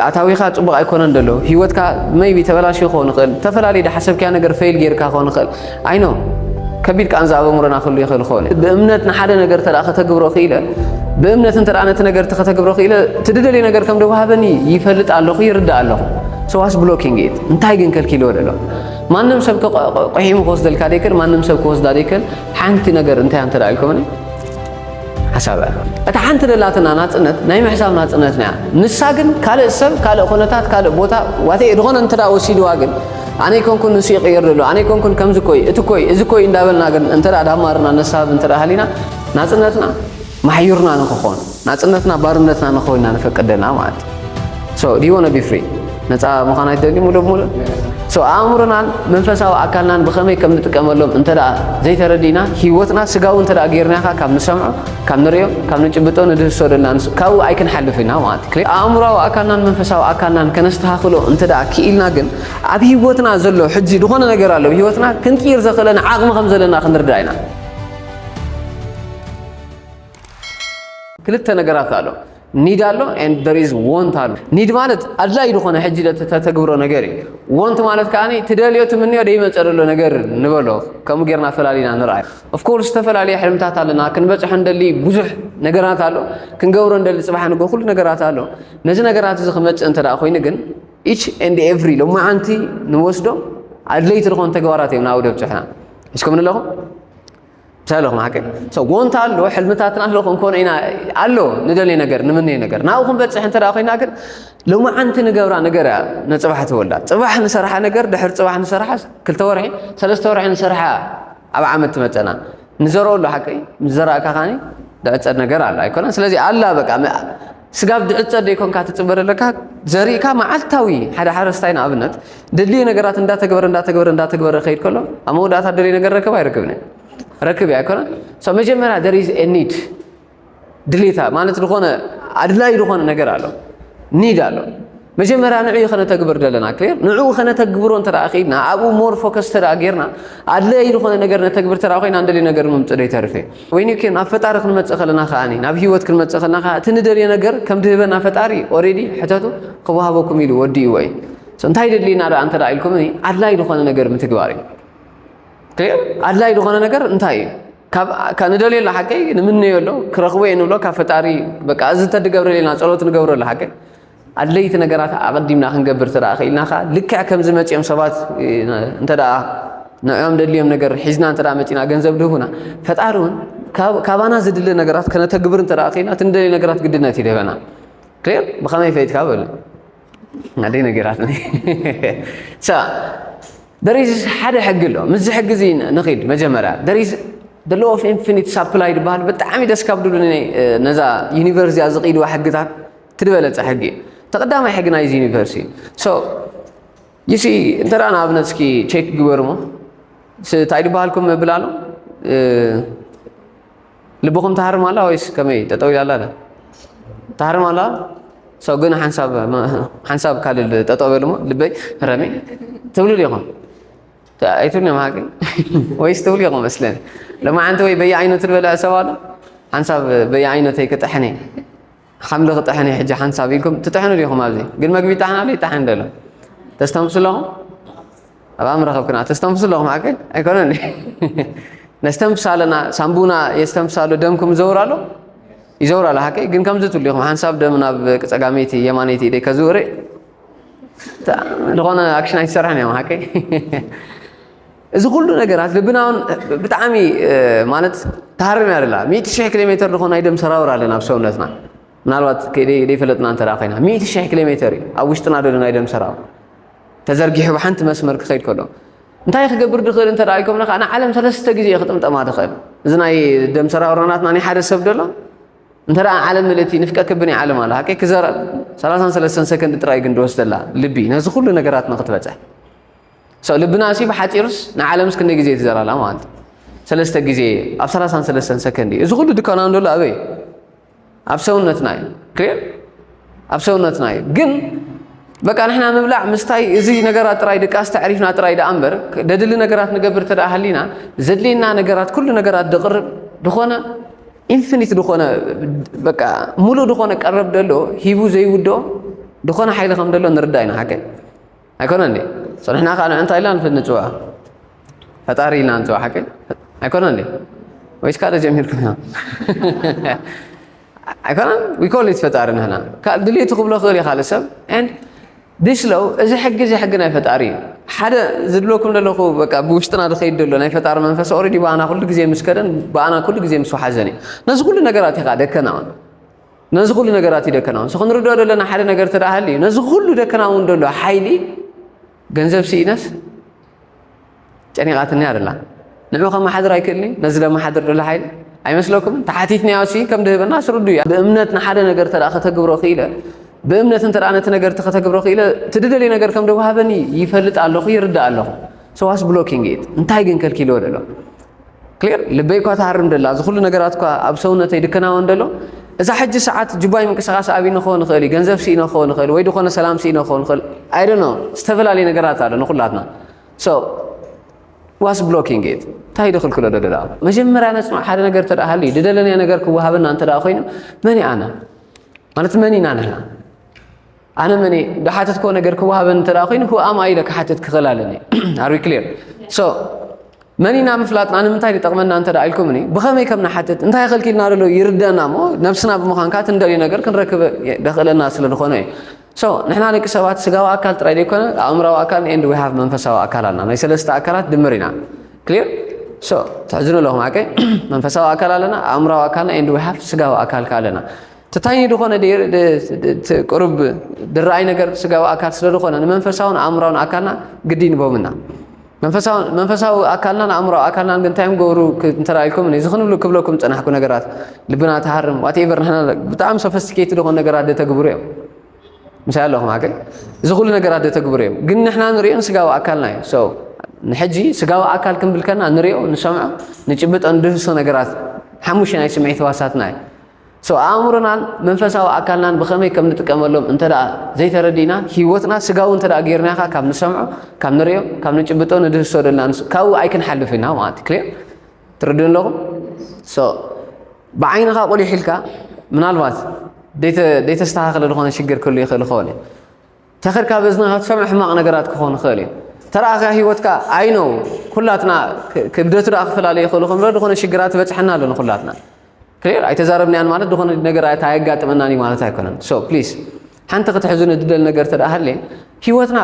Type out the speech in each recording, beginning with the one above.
ኣታዊኻ ጽቡቕ ኣይኮነን ደሎ ህይወትካ መይቢ ተበላሽዩ ክኸውን ይኽእል ዝተፈላለዩ ድሓሰብክያ ነገር ፈይል ጌርካ ክኸውን ይኽእል ኣይኖ ከቢድ ቃንዛ ኣብ ኣእምሮና ክህሉ ይኽእል ይኸውን እዩ ብእምነት ንሓደ ነገር ተደኣ ከተግብሮ ክኢለ ብእምነት እንተ ነቲ ነገር ከተግብሮ ክኢለ እቲ ድደልዮ ነገር ከም ደዋሃበኒ ይፈልጥ ኣለኹ ይርዳእ ኣለኹ ሰዋስ ብሎኪንግ ኢት እንታይ ግን ከልኪልዎ ደሎ ማንም ሰብ ቆሒሙ ክወስደልካ ደይክእል ማንም ሰብ ክወስዳ ደይክእል ሓንቲ ነገር እንታይ እንተ ኢልኩምኒ ሓሳብ እታ ሓንቲ ደላትና ናጽነት ናይ ምሕሳብ ናጽነትና እያ። ንሳ ግን ካልእ ሰብ፣ ካልእ ኩነታት፣ ካልእ ቦታ ዋቴ ድኾነ እንተ ወሲድዋ ግን ኣነ ኣይኮንኩን ንሱ ይቕይር ዘሎ፣ ኣነ ኣይኮንኩን ከምዚ እኮይ፣ እቲ እኮይ፣ እዚ እኮይ እንዳበልና ግን እንተ ዳማርና ነሳብ እንተ ሃሊና ናጽነትና ማሕዩርና ንክኾን ናጽነትና ባርነትና ንክኾን ኢና ንፈቅድ ዘለና ማለት እዩ። So, do you want to be free? ነፃ ምዃን ኣይትደልዩ ሙሉእ ብሙሉእ ሶ ኣእምሮናን መንፈሳዊ ኣካልናን ብኸመይ ከም ንጥቀመሎም እንተ ዘይተረዲእና ሂወትና ስጋዊ እንተ ጌርናኻ ካብ ንሰምዖ ካብ ንሪኦ ካብ ንጭብጦ ንድህሶ ደልና ንሱ ካብኡ ኣይክንሓልፍ ኢና ማለት እዩ ኣእምሮዊ ኣካልናን መንፈሳዊ ኣካልናን ከነስተኻኽሎ እንተ ክኢልና ግን ኣብ ሂወትና ዘሎ ሕጂ ዝኾነ ነገር ኣሎ ሂወትና ክንቅይር ዘኽእለና ዓቕሚ ከም ዘለና ክንርዳእ ኢና ክልተ ነገራት ኣሎ ኒድ ኣሎ ኤንድ ዜር ኢዝ ዎንት ኣሎ። ኒድ ማለት ኣድላዪ ዝኾነ ሕጂ ተተግብሮ ነገር እዩ። ዎንት ማለት ከኣ ትደልዮ ትምንዮ ዘይመጸ ዘሎ ነገር ንበሎ። ከምኡ ጌርና ፈላሊና ንርኣዮ። ኦፍኮርስ ዝተፈላለየ ሕልምታት ኣለና፣ ክንበጽሖ ንደሊ ብዙሕ ነገራት ኣሎ፣ ክንገብሮ ንደሊ ጽባሕ ንግሆ ኩሉ ነገራት ኣሎ። ነዚ ነገራት እዚ ክመጽእ እንተ ደኣ ኮይኑ ግን ኢች ኤንድ ኤቭሪ ሎማዓንቲ ንወስዶ ኣድለይቲ ዝኾኑ ተግባራት እዮም ናብኡ ደብጽሑና። ሒዝኩምኒ ኣለኹም? ሰሎ ማዕቀ ሰው ጎንታ ኣሎ ሕልምታትና ኣሎ ክንኮነ ኢና ኣሎ ንደልየ ነገር ንምንየ ነገር ናብኡ ክንበፅሕ እንተ ኮይና ግን ሎማዓንቲ ንገብራ ነገር እያ ንፅባሕ ትወላ ፅባሕ ንሰርሓ ነገር ድሕሪ ፅባሕ ንሰርሓ ክልተ ወርሒ ሰለስተ ወርሒ ንሰርሓ ኣብ ዓመት ትመፀና ንዘርኦ ኣሎ ሓቂ ምስ ዘራእካ ካኒ ዝዕፀድ ነገር ኣሎ ኣይኮነን ስለዚ ኣላ በቃ ስጋብ ድዕጸ ደይኮንካ ትጽበ ደለካ ዘሪእካ መዓልታዊ ሓደ ሓረስታይ ንኣብነት ደድልዮ ነገራት እንዳተግበረ እንዳተግበረ እንዳተግበረ ከይድ ከሎ ኣብ መወዳእታ ደልዮ ነገር ረከብ ኣይረክብን እዩ ረክብ እዩ ኣይኮነን ሶ መጀመርያ there is a need ድሌታ ማለት ዝኾነ ኣድላይ ዝኾነ ነገር ኣሎ ኒድ ኣሎ መጀመርያ ንዕኡ ከነተግብር ዘለና ክሊር ንዕኡ ከነተግብሮ እንተ ከይድና ኣብኡ ሞር ፎከስ ተደኣ ጌርና ኣድለይ ዝኾነ ነገር ነተግብር ተደኣ ኮይና እንደልዩ ነገር ምምፅእ ደይተርፍ እዩ ወይኒ ኦኬ ናብ ፈጣሪ ክንመጽእ ከለና ከኣ ናብ ሂወት ክንመጽእ ከለና ከኣ እቲ ንደልዮ ነገር ከም ድህበና ፈጣሪ ኦሬዲ ሕተቱ ክወሃበኩም ኢሉ ወዲእዎ እዩ እንታይ ደሊና ደኣ እንተ ኢልኩምኒ ኣድላይ ዝኾነ ነገር ምትግባር እዩ ኣድላይ ዝኾነ ነገር እንታይ እዩ ካብ ንደልዮ ኣሎ ሓቀይ ንምነዮ ኣሎ ክረኽቦ እየ ንብሎ ካብ ፈጣሪ በቃ እዚ እንተድገብረለና ጸሎት ንገብረሉ ሓቀይ ኣድለይቲ ነገራት ኣቐዲምና ክንገብር እንተ ክኢልና ከ ልክዕ ከምዚ መጺኦም ሰባት እንተ ንዕኦም ደድልዮም ነገር ሒዝና እንተ መጺና ገንዘብ ድህቡና ፈጣሪ እውን ካባና ዝድለ ነገራት ከነተግብር እንተ ክኢልና እቲ ንደልዮ ነገራት ግድነት ይደበና ክር ብኸመይ ፈይትካ በሉ ናደይ ነገራት ደሪዝ ሓደ ሕጊ ኣሎ ምስዚ ሕጊ እዚ ንኺድ መጀመርያ ደሪዝ the law of infinite supply ዝበሃል ብጣዕሚ ደስ ካብ ድብሉኒ ነዛ ዩኒቨርስ እዚኣ ዝቕይድዋ ሕግታት እቲ ዝበለጸ ሕጊ እዩ እቲ ቀዳማይ ሕጊ ናይዚ ዩኒቨርስ እዩ ሶ ይሲ እንተ ንኣብነት እስኪ ቼክ ግበሩ ሞ እንታይ ድበሃልኩም መብል ኣሎ ልብኹም ተሃርም ኣላ ወይስ ከመይ ጠጠው ኢላ ኣላ ተሃርም ኣላ ሰው ግን ሓንሳብ ሓንሳብ ካልል ጠጠው በሉ ሞ ልበይ ረሚ ትብሉ ዲኹም ኣይትብሉ እዮም ሃቂ ወይስ ትብሉ ኢኹም መስለን ለማዓንቲ ወይ በየዓይነቱ ዝበልዐ ሰብ ኣሎ ሓንሳብ በየዓይነተይ ክጥሕን እየ ሓምሊ ክጥሕን እዩ ሕጂ ሓንሳብ ኢልኩም ትጥሕኑ ዲኹም ኣብዚ ግን መግቢ ይጣሕን ኣሎ ይጣሕን ደሎ ተስተንፍሱ ኣለኹም ኣብ ኣምረኸብክና ተስተንፍሱ ኣለኹም ሓቂ ኣይኮነን ነስተንፍስ ኣለና ሳምቡና የስተንፍስ ኣሎ ደምኩም ይዘውር ኣሎ ይዘውር ኣሎ ሓቂ ግን ከምዚ ትብሉ ኢኹም ሓንሳብ ደም ናብ ጸጋመይቲ የማነይቲ ኢደይ ከዝውር ዝኾነ ኣክሽን ኣይትሰርሕን እዮም ሓቂ እዚ ኩሉ ነገራት ልብና እውን ብጣዕሚ ማለት ተሃርም እያ ደላ ሚእቲ ሽሕ ኪሎ ሜተር ዝኾን ናይ ደም ሰራውር ኣለና ኣብ ሰውነትና ምናልባት ከይደይፈለጥና እንተ ኮይና ሚእቲ ሽሕ ኪሎ ሜተር እዩ ኣብ ውሽጥና ደሎ ናይ ደም ሰራውር ተዘርጊሑ ብሓንቲ መስመር ክኸይድ ከሎ እንታይ ክገብር ድኽእል እንተ ኢልኮምና ከዓ ንዓለም ሰለስተ ግዜ ክጥምጠማ ድኽእል እዚ ናይ ደም ሰራውርናትና ናይ ሓደ ሰብ ደሎ እንተ ዓለም ምልእቲ ንፍቀ ክብ ናይ ዓለም ኣለ ሃቀይ ክዘረብ ሰላሳን ሰለስተን ሰከንድ ጥራይ ግን ድወስደላ ልቢ ነዚ ኩሉ ነገራት ንክትበፅሕ ሰው ልብና ሲ ብሓፂሩስ ንዓለምስ ክንደይ ግዜ ትዘራላ ማለት እዩ ሰለስተ ግዜ ኣብ ሰላሳን ሰለስተን ሰከንድ እዩ እዚ ኩሉ ድካና ንደሎ ኣበይ ኣብ ሰውነትና እዩ ክሊር ኣብ ሰውነትና እዩ ግን በቃ ንሕና ምብላዕ ምስታይ እዚ ነገራት ጥራይ ድቃስ ተዕሪፍና ጥራይ ደኣ እምበር ደድሊ ነገራት ንገብር ተደኣ ሃሊና ዘድልየና ነገራት ኩሉ ነገራት ድቕርብ ድኾነ ኢንፊኒት ድኾነ በቃ ሙሉእ ድኾነ ቀረብ ደሎ ሂቡ ዘይውድኦ ድኾነ ሓይሊ ከም ደሎ ንርዳእ ኢና ሓቀይ ኣይኮነን ዲ ጸኒሕና ከኣ ንእንታይ ኢልና ንፍንጭዋ ፈጣሪ ኢልና ንጽዋ ሓቂ ኣይኮነን ዲ ወይስ ካደ ጀሚርኩም ኢና ኣይኮነን ዊኮሊት ፈጣሪ ንሕና ካብ ድልየቱ ክብሎ ክእል እዩ ካልእ ሰብ ዲስ ለው እዚ ሕጊ እዚ ሕጊ ናይ ፈጣሪ እዩ ሓደ ዝድለኩም ዘለኹ በቃ ብውሽጥና ዝኸይድ ዘሎ ናይ ፈጣሪ መንፈስ ኦልሬዲ ብኣና ኩሉ ግዜ ምስ ከደን ብኣና ኩሉ ግዜ ምስ ወሓዘን እዩ ነዚ ኩሉ ነገራት ኢኻ ደከና ነዚ ኩሉ ነገራት እዩ ደከና ምስ ክንርድኦ ዘለና ሓደ ነገር ተደኣ ሃልዩ ነዚ ኩሉ ደከና እውን ደሎ ሓይሊ ገንዘብ ስኢነስ ጨኒቓትኒ ኣደላ ንዑ ከመሓድር ኣይክእልኒ ነዚ ለመሓድር ደሎ ሓይሊ ኣይመስለኩምን ተሓቲትኒያ ሲ ከም ድህበና ስርዱ እያ ብእምነት ንሓደ ነገር ተደኣ ከተግብሮ ክኢለ ብእምነት እንተ ነቲ ነገር ከተግብሮ ክኢለ እቲ ድደልዮ ነገር ከም ደዋሃበኒ ይፈልጥ ኣለኹ ይርዳእ ኣለኹ ሰዋስ ብሎኪንግ ኢት እንታይ ግን ከልኪልዎ ደሎ ክሊር ልበይ እኳ ትሃርም ደላ እዚ ኩሉ ነገራት እኳ ኣብ ሰውነተይ ድከናወን ደሎ እዛ ሕጂ ሰዓት ጅባይ ምንቅስቓስ ኣብነ ክኸውን ይኽእል እዩ ገንዘብ ስኢነ ክኸውን ይኽእል ወይ ዝኾነ ሰላም ስኢነ ክኸውን ይኽእል ኣይደኖ ዝተፈላለዩ ነገራት ኣሎ ንኩላትና ሶ ዋስ ብሎኪንግ ኢት እንታይ ድኽልክሎ ዶ ደላ መጀመርያ ነፅንዕ ሓደ ነገር ተደኣ ሃልዩ ድደለናዮ ነገር ክወሃበና እንተ ኮይኑ መን ኣነ ማለት መን ኢና ንሕና ኣነ መን ዳሓተት ኮ ነገር ክወሃበን እንተ ኮይኑ ሁ ኣም ኣይ ኢለ ክሓትት ክኽእል ኣለኒ ኣር ዊ ክሊር ሶ መን ኢና ምፍላጥና ንምንታይ ዝጠቕመና እንተ ኢልኩምኒ ብኸመይ ከም ንሓትት እንታይ ከልኪልና ደሎ ይርደና እሞ ነብስና ብምዃንካ እቲ እንደልዮ ነገር ክንረክብ ደኽእለና ስለ ዝኾነ እዩ ሶ ንሕና ደቂ ሰባት ስጋዊ ኣካል ጥራይ ዘይኮነ ኣእምራዊ ኣካል ኤንድ ዊ ሃቭ መንፈሳዊ ኣካል ኣለና ናይ ሰለስተ ኣካላት ድምር ኢና ክሊር ሶ ትሕዝኑ ኣለኹም ሓቀይ መንፈሳዊ ኣካል ኣለና ኣእምራዊ ኣካልና ኤንድ ዊ ሃቭ ስጋዊ ኣካል ከ ኣለና ትታይኒ ድኾነ ቅሩብ ድረኣይ ነገር ስጋዊ ኣካል ስለ ዝኾነ ንመንፈሳውን ኣእምራውን ኣካልና ግዲ ንቦምና መንፈሳዊ ኣካልናን ኣእምሮ ኣካልናን ግን እንታይ እዮም ገብሩ እንተረኣልኩም እዚ ክንብሉ ክብለኩም ፀናሕኩ ነገራት ልብና ተሃርም ዋትኤቨር ንሕና ብጣዕሚ ሶፈስቲኬት ዝኾኑ ነገራት ደተግብሩ እዮም ምሳይ ኣለኹም ኣገ እዚ ኩሉ ነገራት ደተግብሩ እዮም ግን ንሕና ንሪኦ ስጋዊ ኣካልና እዩ ሰው ንሕጂ ስጋዊ ኣካል ክንብል ከና ንሪኦ ንሰምዖ ንጭብጦ ንድህሶ ነገራት ሓሙሽተ ናይ ስምዒት ህዋሳትና እዩ So ኣእምሮናን መንፈሳዊ ኣካልናን ብኸመይ ከም ንጥቀመሎም እንተድኣ ዘይተረዲእና ህይወትና ስጋዊ እንተድኣ ጌርናኻ ካብ ንሰምዖ ካብ ንርእዮ ካብ ንጭብጦ ንድህሶ ደልና ንሱ ካብኡ ኣይክንሓልፍ ኢና ማለት ክልዮ ትርድኡ ኣለኹም so ብዓይንኻ ቁሊሕ ኢልካ ምናልባት ዘይተስተኻኸለ ዝኾነ ሽግር ክህሉ ይኽእል ይኸውን እዩ ተክር ካብ እዝንኻ ትሰምዕ ሕማቕ ነገራት ክኾን ይኽእል እዩ ተረኣኻ ህይወትካ ኣይነው ኩላትና ክብደቱ ደኣ ክፈላለ ይኽእሉ ከምረ ዝኾነ ሽግራት ይበፅሐና ኣሎ ንኩላትና ክሊር ኣይተዛረብናያን ማለት ዝኾነ ነገር ኣየጋጥመናን እዩ ማለት ኣይኮነን ሶ ፕሊዝ ሓንቲ ክትሕዙ ንድደል ነገር ተደኣ ሃልየ ህይወትና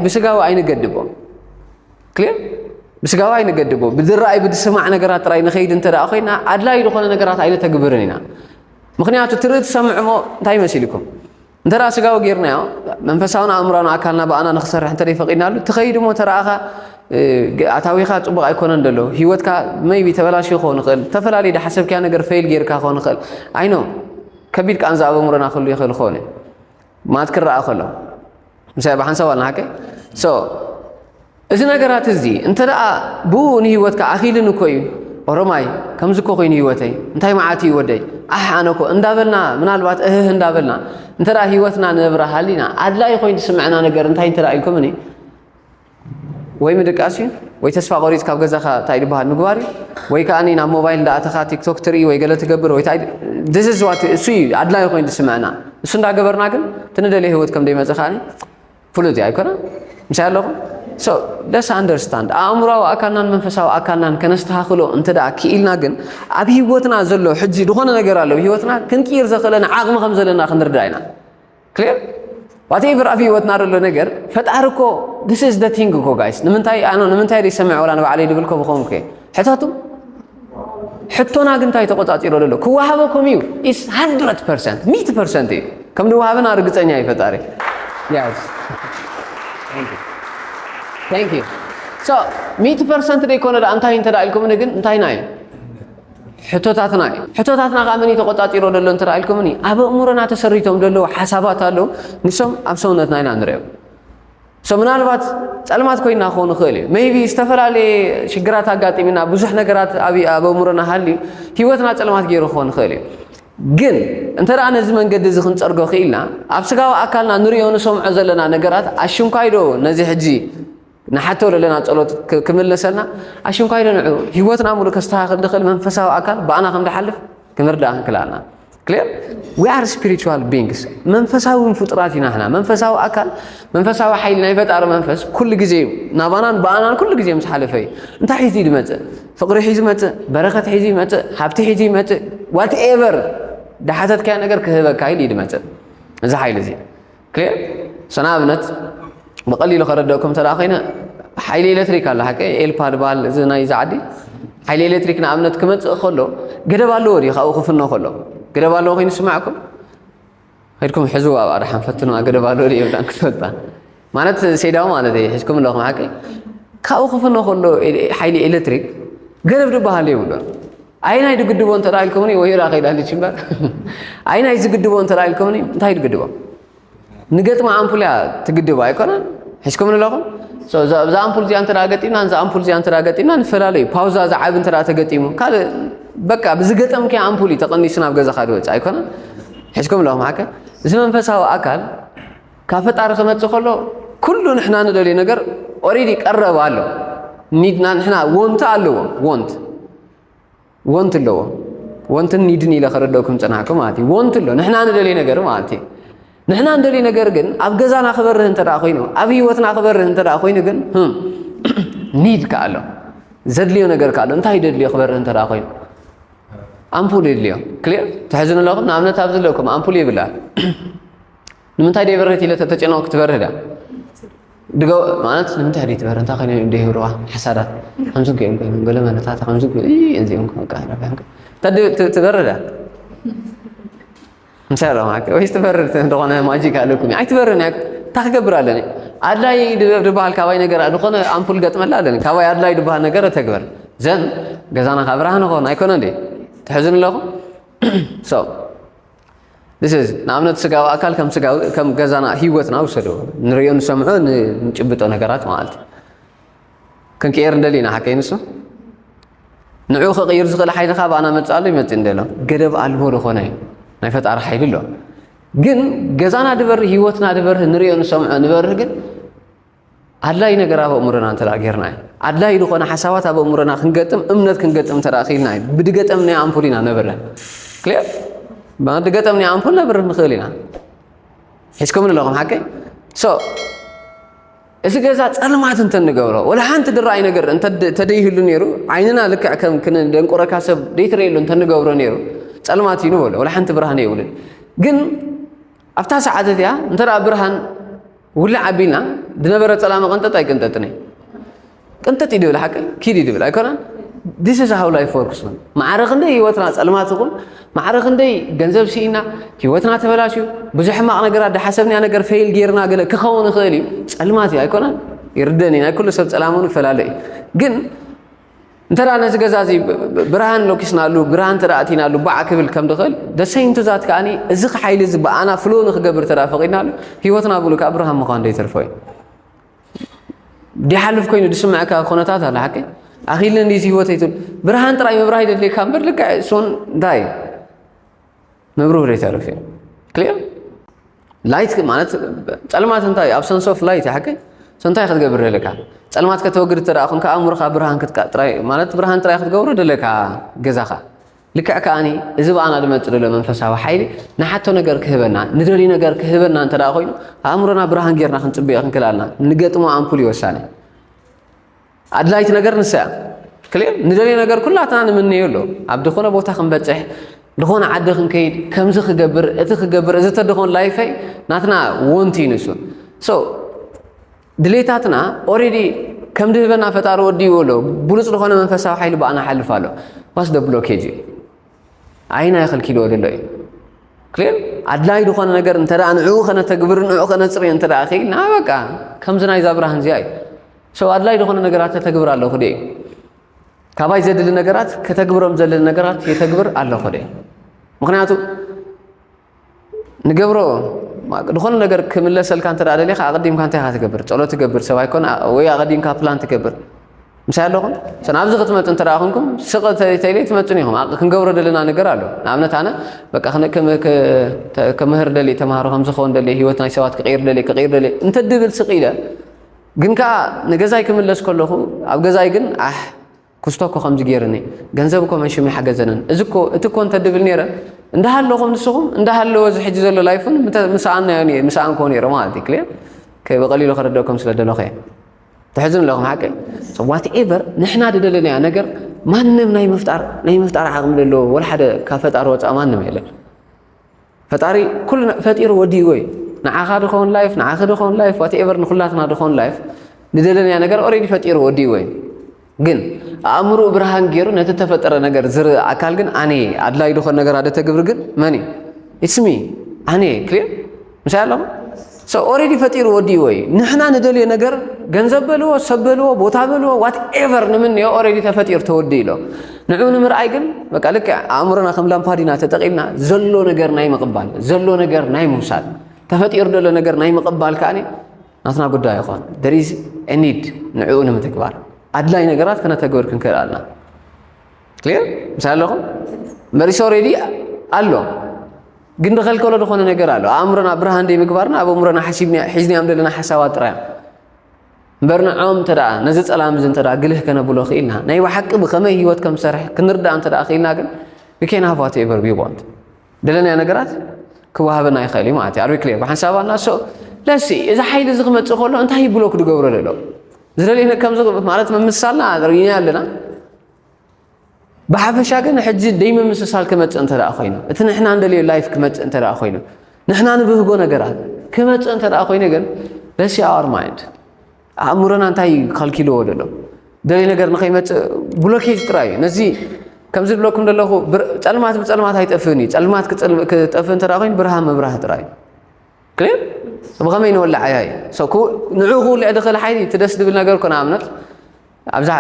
ብስጋዊ ኣይንገድቦ ክሊር ብስጋዊ ኣይንገድቦ ብዝረኣይ ብዝስማዕ ነገራት ጥራይ ንኸይድ እንተ ደኣ ኮይና ኣድላይ ዝኾነ ነገራት ኣይነተግብርን ኢና ምክንያቱ ትርኢ ትሰምዕ ሞ እንታይ መሲልኩም እንተ ደኣ ስጋዊ ጌርናዮ መንፈሳውን ኣእምሮን ኣካልና ብኣና ንኽሰርሕ እንተ ፈቒድናሉ እቲ ከይዲ እሞ ተረኣኻ ኣታዊኻ ጽቡቕ ኣይኮነን ደሎ ህይወትካ መይቢ ተበላሽ ክኸውን ይኽእል ዝተፈላለዩ ድሓሰብክያ ነገር ፈይል ጌርካ ክኸውን ይኽእል ኣይኖ ከቢድ ቃንዛ ኣብ ኣእምሮና ክህሉ ይኽእል ክኸውን እዩ ማለት ክረኣ ከሎ ምሳይ ብሓንሳብ ኣልና ሓቂ ሶ እዚ ነገራት እዚ እንተ ደኣ ብእኡ ንህይወትካ ኣኺሉኒ እኮ እዩ፣ ኦሮማይ ከምዚ እኮ ኮይኑ ህይወተይ፣ እንታይ መዓት እዩ ወደይ፣ ዓሕ ኣነ እኮ እንዳበልና ምናልባት እህህ እንዳበልና እንተ ደኣ ህይወትና ንነብራ ሃሊና ኣድላዪ ኮይኑ ዝስምዐና ነገር እንታይ እንተ ደኣ ኢልኩምኒ ወይ ምድቃስ እዩ ወይ ተስፋ ቆሪጽ ካብ ገዛኻ እንታይ ዝበሃል ምግባር እዩ ወይ ከዓ ናብ ሞባይል እንዳኣተኻ ቲክቶክ ትርኢ ወይ ገለ ትገብር ወይ ድዝዝዋት እሱ እዩ ኣድላይ ኮይኑ ዝስምዐና እሱ እንዳገበርና ግን ትንደልየ ህይወት ከም ደይመፀ ከዓ ፍሉጥ እዩ ኣይኮነን ምሳይ ኣለኹም ሶ ለስ ኣንደርስታንድ ኣእምሯዊ ኣካልናን መንፈሳዊ ኣካልናን ከነስተኻኽሎ እንተ ደኣ ክኢልና ግን ኣብ ህይወትና ዘሎ ሕጂ ዝኾነ ነገር ኣሎ ህይወትና ክንቅይር ዘኽእለና ዓቕሚ ከም ዘለና ክንርዳእ ኢና ክሊር ዋትኤቨር ኣብ ህይወትና ዘሎ ነገር ፈጣሪ እኮ ዲስ ኢዝ ዘ ቲንግ እኮ ጋይስ ንምንታይ ኣነ ንምንታይ ዘይሰምዕ ወላ ንባዕለይ ድብል ኮ ብኸምኩ ሕተቱ ሕቶና ግን እንታይ ተቆፃፂሮ ዘሎ ክወሃቦ ከም እዩ ኢስ ሃንድረድ ፐርሰንት ሚት ፐርሰንት እዩ ከም ንወሃብና ርግፀኛ እዩ ፈጣሪ ታንክ ዩ ሶ ሚት ፐርሰንት ደይኮነ ደኣ እንታይ እንተ ኢልኩምኒ ግን እንታይና እዩ ሕቶታትና እዩ ሕቶታትና ከዓ መን እዩ ተቆፃፂሮ ዘሎ እንተ ኢልኩምኒ ኣብ ኣእምሮና ተሰሪቶም ዘለዉ ሓሳባት ኣለዉ ንሶም ኣብ ሰውነትና ኢና ንሪኦም So ምናልባት ጸልማት ኮይና ክኸውን ይኽእል እዩ። Maybe ዝተፈላለየ ሽግራት ኣጋጢሙና ብዙሕ ነገራት ኣብ ኣብ ኣእምሮና ሃልዩ ህይወትና ጸልማት ገይሩ ክኸውን ይኽእል እዩ። ግን እንተ ደኣ ነዚ መንገዲ እዚ ክንጸርጎ ክኢልና ኣብ ስጋዊ ኣካልና ንርእዮ ንሰምዖ ዘለና ነገራት ኣሽንኳይዶ ነዚ ሕጂ ንሓቶ ዘለና ጸሎት ክምልሰልና ኣሽንኳይዶ ንዑ ህይወትና ሙሉ ከስተኻኽል ድኽእል መንፈሳዊ ኣካል ብኣና ከም ድሓልፍ ክንርዳእ ክንክል ኣለና ክሊር ዊ ኣር ስፒሪቹዋል ቢንግስ መንፈሳዊ ፍጡራት ኢና ሕና መንፈሳዊ ኣካል መንፈሳዊ ሓይሊ ናይ ፈጣሪ መንፈስ ኩሉ ግዜ እዩ ናባናን ብኣናን ኩሉ ግዜ ምስ ሓለፈ እዩ እንታይ ሒዙ ዝመፅእ ፍቕሪ ሒዙ ይመፅእ በረኸት ሒዙ ይመፅእ ሃብቲ ሒዙ ይመፅእ ዋት ኤቨር ዳሓተትካዮ ነገር ክህበካ ኢሉ እዩ ዝመፅእ እዚ ሓይሊ እዚ ክሊር ሰና ኣብነት ብቐሊሉ ከረድአኩም እንተ ኮይነ ሓይሊ ኤሌክትሪክ ኣሎ ሓቂ ኤልፓ ድበሃል እዚ ናይ እዚ ዓዲ ሓይሊ ኤሌክትሪክ ንኣብነት ክመፅእ ከሎ ገደብ ኣለዎ ድዩ ካብኡ ክፍኖ ከሎ ገደብ ኣለዎ ኮይኑ ስማዕኩም ከድኩም ሕዝዋ ኣብኣ ድሓን ፈትንዋ ገደብ ኣለዎ ድዩ የብላን ክትፈልጣ ማለት ሴዳው ማለት እዩ ሒዝኩም ኣለኹም ሓቂ ካብኡ ክፍኖ ከሎ ሓይሊ ኤሌክትሪክ ገደብ ድበሃል የብሎ ኣይናይ ድግድቦ እንተ ኢልኩምኒ ወይራ ከይዳ ልች እምበር ኣይናይ ዝግድቦ እንተ ኢልኩምኒ እንታይ ድግድቦ ንገጥሚ ኣምፑል እያ ትግድቦ ኣይኮነን ሒዝኩምኒ ኣለኹም እዛ ኣምፑል እዚኣ እንተ ገጢምና እዛ ኣምፑል እዚኣ እንተ ገጢምና ንፈላለዩ ፓውዛ ዝዓቢ እንተ ተገጢሙ ካልእ በቃ ብዝገጠምኪ ኣምፑል እዩ ተቐኒሱ ናብ ገዛኻ ድወፅእ ኣይኮነን ሒዝኩም ኣለኹም ሓቀ እዚ መንፈሳዊ ኣካል ካብ ፈጣሪ ክመጽእ ከሎ ኩሉ ንሕና ንደልዮ ነገር ኦሬዲ ቀረብ ኣሎ ኒድና ንሕና ወንት ኣለዎ ወንት ወንት ኣለዎ ወንትን ኒድን ኢለ ከረደኩም ጽናሕኩ ማለት እዩ ወንት ኣሎ ንሕና ንደልዮ ነገር ማለት እዩ ንሕና እንደልዩ ነገር ግን ኣብ ገዛና ክበርህ እንተ ኮይኑ ኣብ ህይወትና ክበርህ እንተ ኮይኑ ግን ኒድ ከ ኣሎ ዘድልዮ ነገር ከ ኣሎ እንታይ ደድልዮ ክበርህ እንተ ኮይኑ ኣምፑል የድልዮ ክሊር ትሕዝኑ ኣለኹም ንኣብነት ኣብዚ ኣለኩም ኣምፑል ይብላ ንምንታይ ደይ በርህት ኢለ ተተጨነቑ ክትበርህ ድያ ድገ ማለት ንምንታይ ደይ ትበርህ እንታይ ኮይኑ ደይ ህብርዋ ሓሳዳት ከምዚ ገይም ኮይኑ ገለ መለታት ከምዚ እዚኦም ከቃ ትበርህ ድያ እንታይ ረ ማከ ወይስ ትበርህ ዝኾነ ማጂክ ኣለኩም ኣይትበርህን እያ እንታይ ክገብር ኣለኒ ኣድላይ ድበሃል ካባይ ነገር ዝኾነ ኣምፑል ገጥመላ ኣለኒ ካባይ ኣድላይ ድበሃል ነገር ተግበር ዘን ገዛና ካብ ብርሃን ኾን ኣይኮነ እንዴ ትሕዝን ኣለኹም ሰው This is ንኣብነት ስጋዊ ኣካል ከም ስጋዊ ከም ገዛና ህይወትና ውሰዶ ንሪኦ ንሰምዖ ንጭብጦ ነገራት ማለት እዩ ክንቅየር እንደሊ ኢና ሓቀይ ንሱ ንዑ ክቕይር ዝኽእል ሓይሊ ካብ ኣና መፅእ ኣሎ ይመፅእ እንደሎ ገደብ ኣልቦ ዝኾነ እዩ ናይ ፈጣሪ ሓይሊ ኣሎ ግን ገዛና ድበርህ ህይወትና ድበርህ ንሪኦ ንሰምዖ ንበርህ ግን ኣድላይ ነገር ኣብ ኣእምሮና እንተ ጌርና እዩ ኣድላይ ዝኾነ ሓሳባት ኣብ ኣእምሮና ክንገጥም እምነት ክንገጥም እንተ ክኢልና እዩ ብድገጠም ናይ ኣምፑል ኢና ነብረ ክልር ብድገጠም ናይ ኣምፑል ነብር ንኽእል ኢና ሒዝኩምን ኣለኹም ሓቂ ሶ እዚ ገዛ ፀልማት እንተ ንገብሮ ወላ ሓንቲ ድራይ ነገር እንተደይህሉ ነይሩ ዓይንና ልክዕ ከም ክንደንቁረካ ሰብ ደይትረየሉ እንተ ንገብሮ ነይሩ ፀልማት እዩ ንበሎ ወላ ሓንቲ ብርሃን የብሉን ግን ኣብታ ሰዓት እቲኣ እንተ ብርሃን ውልዕ ኣቢልና ዝነበረ ፀላሚ ቅንጥጥ ኣይቅንጥጥን እዩ ቅንጥጥ እዩ ድብል ሓቂ ኪድ እዩ ድብል ኣይኮነን ዲስ ኢዝ ሃው ላይፍ ወርክስ ውን ማዕረ ክንደይ ህይወትና ፀልማት ይኹን ማዕረ ክንደይ ገንዘብ ስኢና ህይወትና ተበላሽዩ ብዙሕ ሕማቕ ነገራት ዳሓሰብናያ ነገር ፈይል ጌርና ገለ ክኸውን ይኽእል እዩ ፀልማት እዩ ኣይኮነን ይርደን እዩ ናይ ኩሉ ሰብ ፀላም ውን ይፈላለ እዩ ግን እንተ ነዚ ገዛ እዚ ብርሃን ሎኪስናሉ ብርሃን ተደኣ ኣቲናሉ ባዕ ክብል ከም ድኽእል ደሰይንቱ ዛት ከዓ እዚ ሓይሊ እዚ ብኣና ፍሎ ንክገብር ተደኣ ፈቂድናሉ ህይወትና ብሉ ከዓ ብርሃን ምዃን ዘይተርፎ እዩ ዲሓልፍ ኮይኑ ዝስምዐካ ኩነታት ኣሎ ሓቂ ኣኺልኒ እዚ ህይወተይ ትብል ብርሃን ጥራይ ምብራህ ይደልየካ እምበር ልክዕ እሱን እንታይ እዩ መብርሁ ዘይተርፍ እዩ ክሊር ላይት ማለት ጸልማት እንታይ ኣብ ሰንስ ኦፍ ላይት ሓቂ ሰንታይ ክትገብር ደለካ ጸልማት ከተወግድ እተ ኮንካ ኣእምሮኻ ብርሃን ክትቃጥራይ ማለት ብርሃን ጥራይ ክትገብሮ ደለካ ገዛኻ ልክዕ ከዓኒ እዚ በኣና ድመፅ ደሎ መንፈሳዊ ሓይሊ ንሓቶ ነገር ክህበና ንደልዩ ነገር ክህበና እንተ ኮይኑ ኣእምሮና ብርሃን ጌርና ክንፅበዮ ክንክል ኣለና ንገጥሞ ኣምፑል ይወሳኒ ኣድላይት ነገር ንሳ እያ ክሌር ንደልዮ ነገር ኩላትና ንምነዮ ኣሎ ኣብ ዝኾነ ቦታ ክንበፅሕ ዝኾነ ዓዲ ክንከይድ ከምዚ ክገብር እቲ ክገብር እዚ ተደኾን ላይፈይ ናትና ወንቲ እዩ ንሱ ሶ ድሌታትና ኦሬዲ ከም ድህበና ፈጣሪ ወዲዎ ኣሎ ብሉፅ ዝኾነ መንፈሳዊ ሓይሊ ብኣና ሓልፍ ኣሎ ዋስ ደ ብሎኬጅ እዩ ኣይና ይኸልኪልዎ ዘሎ እዩ ክሌር ኣድላይ ዝኾነ ነገር እንተ ንዕኡ ከነተግብር ንዕኡ ከነፅርዮ እንተ ክኢልና በቃ ከምዚ ናይዛ ብርሃን እዚኣ እዩ ሰው ኣድላይ ዝኾነ ነገራት ተተግብር ኣለኹ ደ ካባይ ዘድሊ ነገራት ከተግብሮም ዘድሊ ነገራት የተግብር ኣለኹ ደ ምክንያቱ ንገብሮ ዝኾነ ነገር ክምለሰልካ እንተ ደሊኻ ኣቐዲምካ እንታይ ኢኻ ትገብር ጸሎት ትገብር ሰብ ኣይኮነ ወይ ኣቐዲምካ ፕላን ትገብር ምሳይ ኣለኹም ሰን ኣብዚ ክትመፁ እንተ ደኣ ኮንኩም ስቕ ተይለ ትመፁን ኢኹም ክንገብሮ ደለና ነገር ኣሎ ንኣብነት ኣነ በቃ ከምህር ደልየ ተምሃሮ ከምዝኸውን ደልየ ሂወት ናይ ሰባት ክቕይር ደልየ ክቕይር ደልየ እንተድብል ስቕ ኢለ ግን ከኣ ንገዛይ ክምለስ ከለኹ ኣብ ገዛይ ግን ኣሕ ኩስቶ እኮ ከምዚ ገይሩኒ ገንዘብ እኮ መንሽም ኣይሓገዘንን እዚ እኮ እቲ እኮ እንተድብል ነይረ እንዳሃለኹም ንስኹም እንዳሃለወ እዚ ሕጂ ዘሎ ላይፍን ምሰኣናዮ እየ ምሰኣንክዎ ነይረ ማለት እዩ ክልያ ብቐሊሉ ክርደኩም ስለ ደለኹ እየ ትሕዝኑ ኣለኹም ሓቂ ዋት ኤቨር ንሕና ዝደለናዮ ነገር ማንም ናይ ምፍጣር ናይ ምፍጣር ዓቕሚ ዘለዎ ወላ ሓደ ካብ ፈጣሪ ወፃእ ማንም የለን ፈጣሪ ኩሉ ፈጢሩ ወዲእዎ እዩ ንዓኻ ድኾን ላይፍ ንዓኺ ድኾን ላይፍ ዋትኤቨር ንኹላትና ድኾን ላይፍ ንደለናዮ ነገር ኦሬዲ ፈጢሩ ወዲእዎ እዩ ግን ኣእምሮኡ ብርሃን ገይሩ ነቲ ተፈጠረ ነገር ዝርኢ ኣካል ግን ኣነ ኣድላይ ድኾን ነገር ኣደ ተግብሪ ግን መን እዩ ኢትስሚ ኣነ ክሊር ምሳይ ኣለኹ ሰ ኦሬዲ ፈጢሩ ወዲእዎ እዩ ንሕና ንደልዮ ነገር ገንዘብ በልዎ ሰብ በልዎ ቦታ በልዎ ዋት ኤቨር ንምንዮ ኦሬዲ ተፈጢሩ ተወዲ ኢሎ ንዑ ንምርኣይ ግን በቃ ልክ ኣእምሮና ከም ላምፓዲና ተጠቂምና ዘሎ ነገር ናይ ምቕባል ዘሎ ነገር ናይ ምውሳድ ተፈጢሩ ዘሎ ነገር ናይ ምቕባል ከዓ ናትና ጉዳይ ይኾን ደሪዝ ኒድ ንዕኡ ንምትግባር ኣድላይ ነገራት ከነተግብር ክንክእል ኣለና ክሊር ምሳሌ ኣለኹም መሪስ ኦሬዲ ኣሎ ግን ድኸልከሎ ዝኾነ ነገር ኣሎ ኣእምሮና ብርሃን ደይምግባርና ኣብ ኣእምሮና ሓሲብና ሒዝናዮም ዘለና ሓሳባት ጥራይ እዮም እምበር ንዖም እንተ ደኣ ነዚ ጸላም እዚ እንተ ግልህ ከነብሎ ክኢልና ናይ ብሓቂ ብኸመይ ህይወት ከም ዝሰርሕ ክንርዳእ እንተ ደኣ ክኢልና ግን ዊኬን ሃቫት ኤቨር ቢቦንት ደለናዮ ነገራት ክዋሃበና ይኽእል እዩ ማለት እዩ ኣርቢ ክልር ብሓንሳብ ኣና ሶ ለሲ እዚ ሓይሊ እዚ ክመፅእ ከሎ እንታይ ብሎ ክድገብሮ ደሎ ዝደልየ ከምዚ ማለት ምምሳልና ርእና ኣለና ብሓፈሻ ግን ሕጂ ደይምምስሳል ክመፅእ እንተ ኮይኑ እቲ ንሕና እንደልዮ ላይፍ ክመፅእ እንተ ኮይኑ ንሕና ንብህጎ ነገራት ክመፅእ እንተ ኮይኑ ግን ለሲ ኣር ማይንድ ኣእምሮና እንታይ ከልኪልዎ ደሎ ደልይ ነገር ንኸይመፅእ ብሎኬጅ ጥራይ እዩ ነዚ ከምዚ ዝብለኩም ዘለኹ ፀልማት ብፀልማት ኣይጠፍእን እዩ ፀልማት ክጠፍእ እንተ ኮይኑ ብርሃን ምብራህ ጥራይ እዩ ክሊር ብኸመይ ንወላዕ እያ እዩ ንዑ ክውልዕ ድኽእል ሓይሊ እቲ ደስ ዝብል ነገር ኮነ ኣብነት ኣብዛ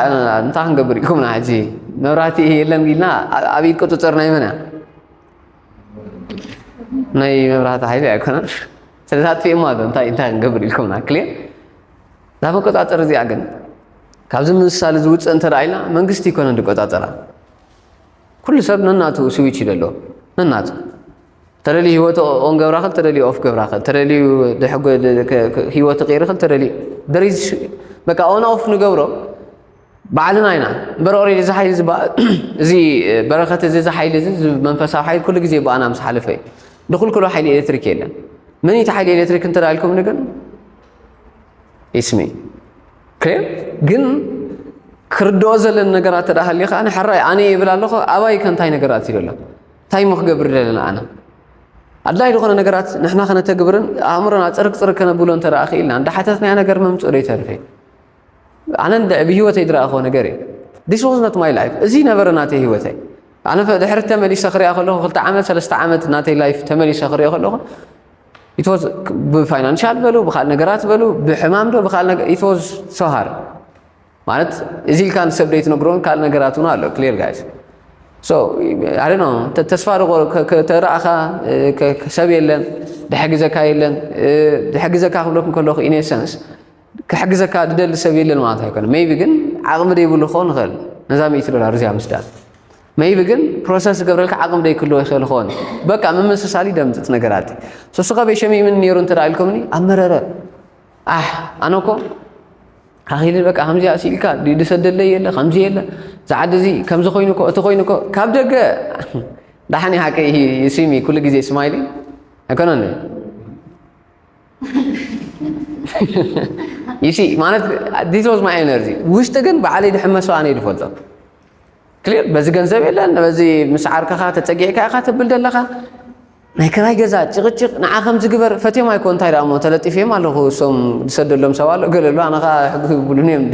እንታይ ክንገብር ኢልኩምና ሕጂ መብራህቲ የለን ኢልና ኣብ ኢድ ቁፅፅር ናይ መን እያ ናይ መብራህቲ ሓይሊ ኣይኮነን ስለዚ ኣጥፊእማ ኣሎ እንታይ እንታይ ክንገብር ኢልኩምና ክሊር እዛ መቆፃፀር እዚኣ ግን ካብዚ ምሳሌ ዝውፅእ እንተረኣይና መንግስቲ ይኮነ ዝቆፃፀራ ኩሉ ሰብ ነናቱ ስዊች ይደሎ ነናቱ ተደልዩ ህይወት ኦን ገብራ ክል ተደልዩ ኦፍ ገብራ ክል ተደልዩ ህይወት ቅይር ክል ተደልዩ ደሪዝ በቃ ኦን ኦፍ ንገብሮ ባዕልና ኢና እምበር ኦሬዲ እዚ ሓይሊ እዚ በረኸት እዚ እዚ ሓይሊ እዚ መንፈሳዊ ሓይሊ ኩሉ ግዜ ብኣና ምስ ሓለፈ እዩ ድኩልኩሎ ሓይሊ ኤሌክትሪክ የለን መን እቲ ሓይሊ ኤሌክትሪክ እንተዳልኩም ግን ይስሚ ክሬ ግን ክርድኦ ዘለን ነገራት ተዳሃልዩ ከዓ ንሕራይ ኣነ ይብል ኣለኹ ኣባይ ከንታይ ነገራት ይደሎ እንታይ እሞ ክገብር ደለና ኣነ ኣድላይ ዝኾነ ነገራት ንሕና ከነተግብርን ኣእምሮና ፅርግ ፅርግ ከነብሎ እንተ ክኢልና እንዳሓተትናዮ ነገር መምፅኡ ደይተርፍ እዩ ኣነ ብሂወተይ ዝረኣኹዎ ነገር እዩ ዲስ ዋዝ ኖት ማይ ላይፍ እዚ ነበረ ናተይ ሂወተይ ኣነ ድሕሪ ተመሊሰ ክሪኣ ከለኹ ክልተ ዓመት ሰለስተ ዓመት ናተይ ላይፍ ተመሊሰ ክሪኦ ከለኹ ኢትወዝ ብፋይናንሻል በሉ ብካል ነገራት በሉ ብሕማም ዶ ብካል ኢትወዝ ሶሃር ማለት እዚ ኢልካ ንሰብ ደይትነግሮን ካልእ ነገራት እውን ኣሎ ክሊር ጋይስ ሶ ኣይ ኖ ተስፋ ተረኣኻ ሰብ የለን ድሕግዘካ የለን ድሕግዘካ ክብለኩም ከለኹ ኢኔሰንስ ክሕግዘካ ድደሊ ሰብ የለን ማለት ኣይኮነ መይቢ ግን ዓቕሚ ደይብሉ ክኸውን ይኽእል ነዛ ሚእቲ ዶላር እዚኣ ምስዳን መይቢ ግን ፕሮሰስ ዝገብረልካ ዓቕሚ ደይክልዎ ይኽእል ይኸውን በቃ ምምስሳሊ ደምፅፅ ነገራት ሶስኸ በሸሚምን ነይሩ እንተ ኢልኩምኒ ኣብ መረረ ኣሕ ኣነ እኮ ኣኺለ በቃ ከምዚ ኣስኢልካ ድዩ ዝሰደለይ የለ ከምዚ የለ እዚ ዓዲ እዚ ከምዚ ኮይኑ እኮ እቲ ኮይኑ እኮ ካብ ደገ ዳሓን ሓቂ ስሚ ኩሉ ግዜ ስማይሊ ኣይኮነን ይሲ ማለት ዲስ ዋዝ ማይ ኤነርጂ ውሽጢ ግን በዓለይ ድሕመሶ ኣነ ድፈልጦ ክሊር በዚ ገንዘብ የለን በዚ ምስ ዓርከኻ ተፀጊዕካ ኢኻ ትብል ዘለኻ ናይ ክራይ ገዛ ጭቕጭቕ ንዓ ከምዚ ግበር ፈትዮም ኣይኮ እንታይ ደኣ እሞ ተለጢፈዮም ኣለኹ እሶም ዝሰደሎም ሰብ ኣሎ ገለ ኣሎ ኣነ ከዓ ሕጊ ክብሉኒ እዮም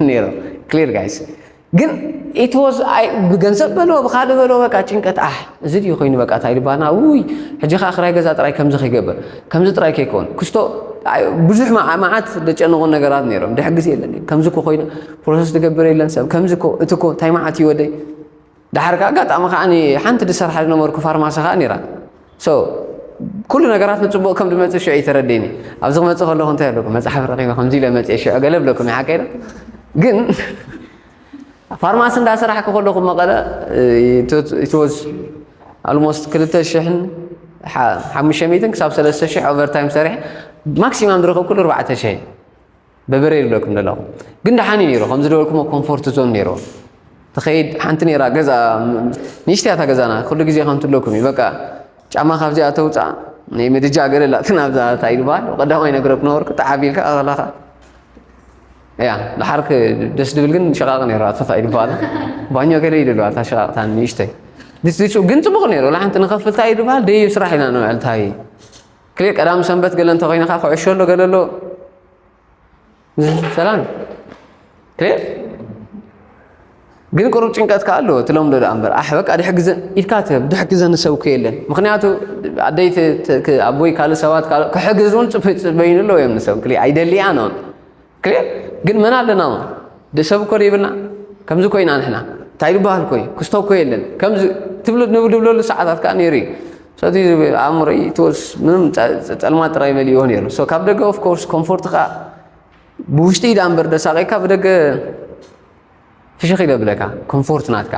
ነይሮም ክሊር ጋይስ ግን ኢትወዝ ብገንዘብ በሎ ብካልእ በሎ በቃ ጭንቀት ኣሕ እዚ ድዩ ኮይኑ በቃ እንታይ ድባና ውይ ሕጂ ከዓ ክራይ ገዛ ጥራይ ከምዚ ከይገበር ከምዚ ጥራይ ከይከውን ክስቶ ብዙሕ መዓት ዘጨንቑ ነገራት ነይሮም ድሕግዝ የለን ከምዚ ኮ ኮይኑ ፕሮሰስ ዝገብር የለን ሰብ ከምዚ ኮ እቲ ኮ እንታይ መዓት ይወደይ ደሓር ከኣ ኣጋጣሚ ከኣ ሓንቲ ድሰርሓ ዝነበርኩ ፋርማሲ ከኣ ነይራ ሶ ኩሉ ነገራት ንፅቡቅ ከም ድመፅእ ሽዑ እዩ ተረዲኒ ኣብዚ ክመፅእ ከለኹ እንታይ ኣለኩ መፅሓፍ ረኪበ ከምዚ ኢለ መፅየ ሽዑ ገለ ብለኩም እዩ ሓቀይ ግን ፋርማሲ እንዳሰራሕኩ ከለኹ መቐለ ኢትወዝ ኣልሞስት ክልተ ሽሕን ሓሙሽተ ሚእትን ክሳብ ሰለስተ ሽሕ ኦቨርታይም ሰሪሐ ማክሲማም ዝረኸብኩሉ ኣርባዕተ ሽሕ እዩ በበረይ ይብለኩም ዘለኹ ግን ደሓን እዩ ነይሩ ከም ዝበልኩሞ ኮምፎርት ዞን ነይሩ ትኸይድ ሓንቲ ነይራ ገዛ ንእሽተይ እታ ገዛና ኩሉ ግዜ ከም ትብለኩም እዩ በቃ ጫማ ካብዚኣ ተውፃእ ናይ ምድጃ ገለላትን ኣብዛ እንታይ ዝበሃል ቀዳማይ ነገር ክነበርኩ ተዓብ ኢልካ ከላኻ እያ ደሓርክ ደስ ድብል ግን ሸቃቕ ነይራ ትኸይድ በኋላ ባኞ ገለ ይልሉ ኣታ ሸቃቕታ ንእሽተይ ግን ፅቡቕ ነይሩ ላሓንቲ ንኸፍልታ እዩ ዝበሃል ደዩ ስራሕ ኢና ንውዕል እንታይ ክሌ ቀዳም ሰንበት ገለ እንተኮይንካ ኩዕሾ ኣሎ ገለ ኣሎ ሰላም ክሌ ግን ቅሩብ ጭንቀት ከዓ ኣሎ ትለምዶ ደኣ እምበር ኣሕ በቃ ድሕ ግዘ ኢልካ ትህብ ድሕ ግዘ ንሰብኩ የለን ምክንያቱ ኣደይ ኣቦይ ካልእ ሰባት ክሕግዝ እውን ፅበይኑ ኣለዎ እዮም ንሰብ ክሌ ኣይደልያ ኖን ክሊር ግን መን ኣለና ውን ድ ሰብ እኮ ደይብልና ከምዚ እኮ ኢና ንሕና እንታይ ዝበሃል እኮ እዩ ክስቶ እኮ የለን ከምዚ ትብሉ ንብድብለሉ ሰዓታት ከዓ ነይሩ እዩ ሰቲ ኣእምሮይ ተወስ ምንም ፀልማት ጥራይ መሊእዎ ነይሩ ሶ ካብ ደገ ኦፍኮርስ ኮምፎርት ከዓ ብውሽጢ ዳኣ እምበር ደሳቂካ ብደገ ፍሽኽ ኢለ ብለካ ኮንፎርት ናትካ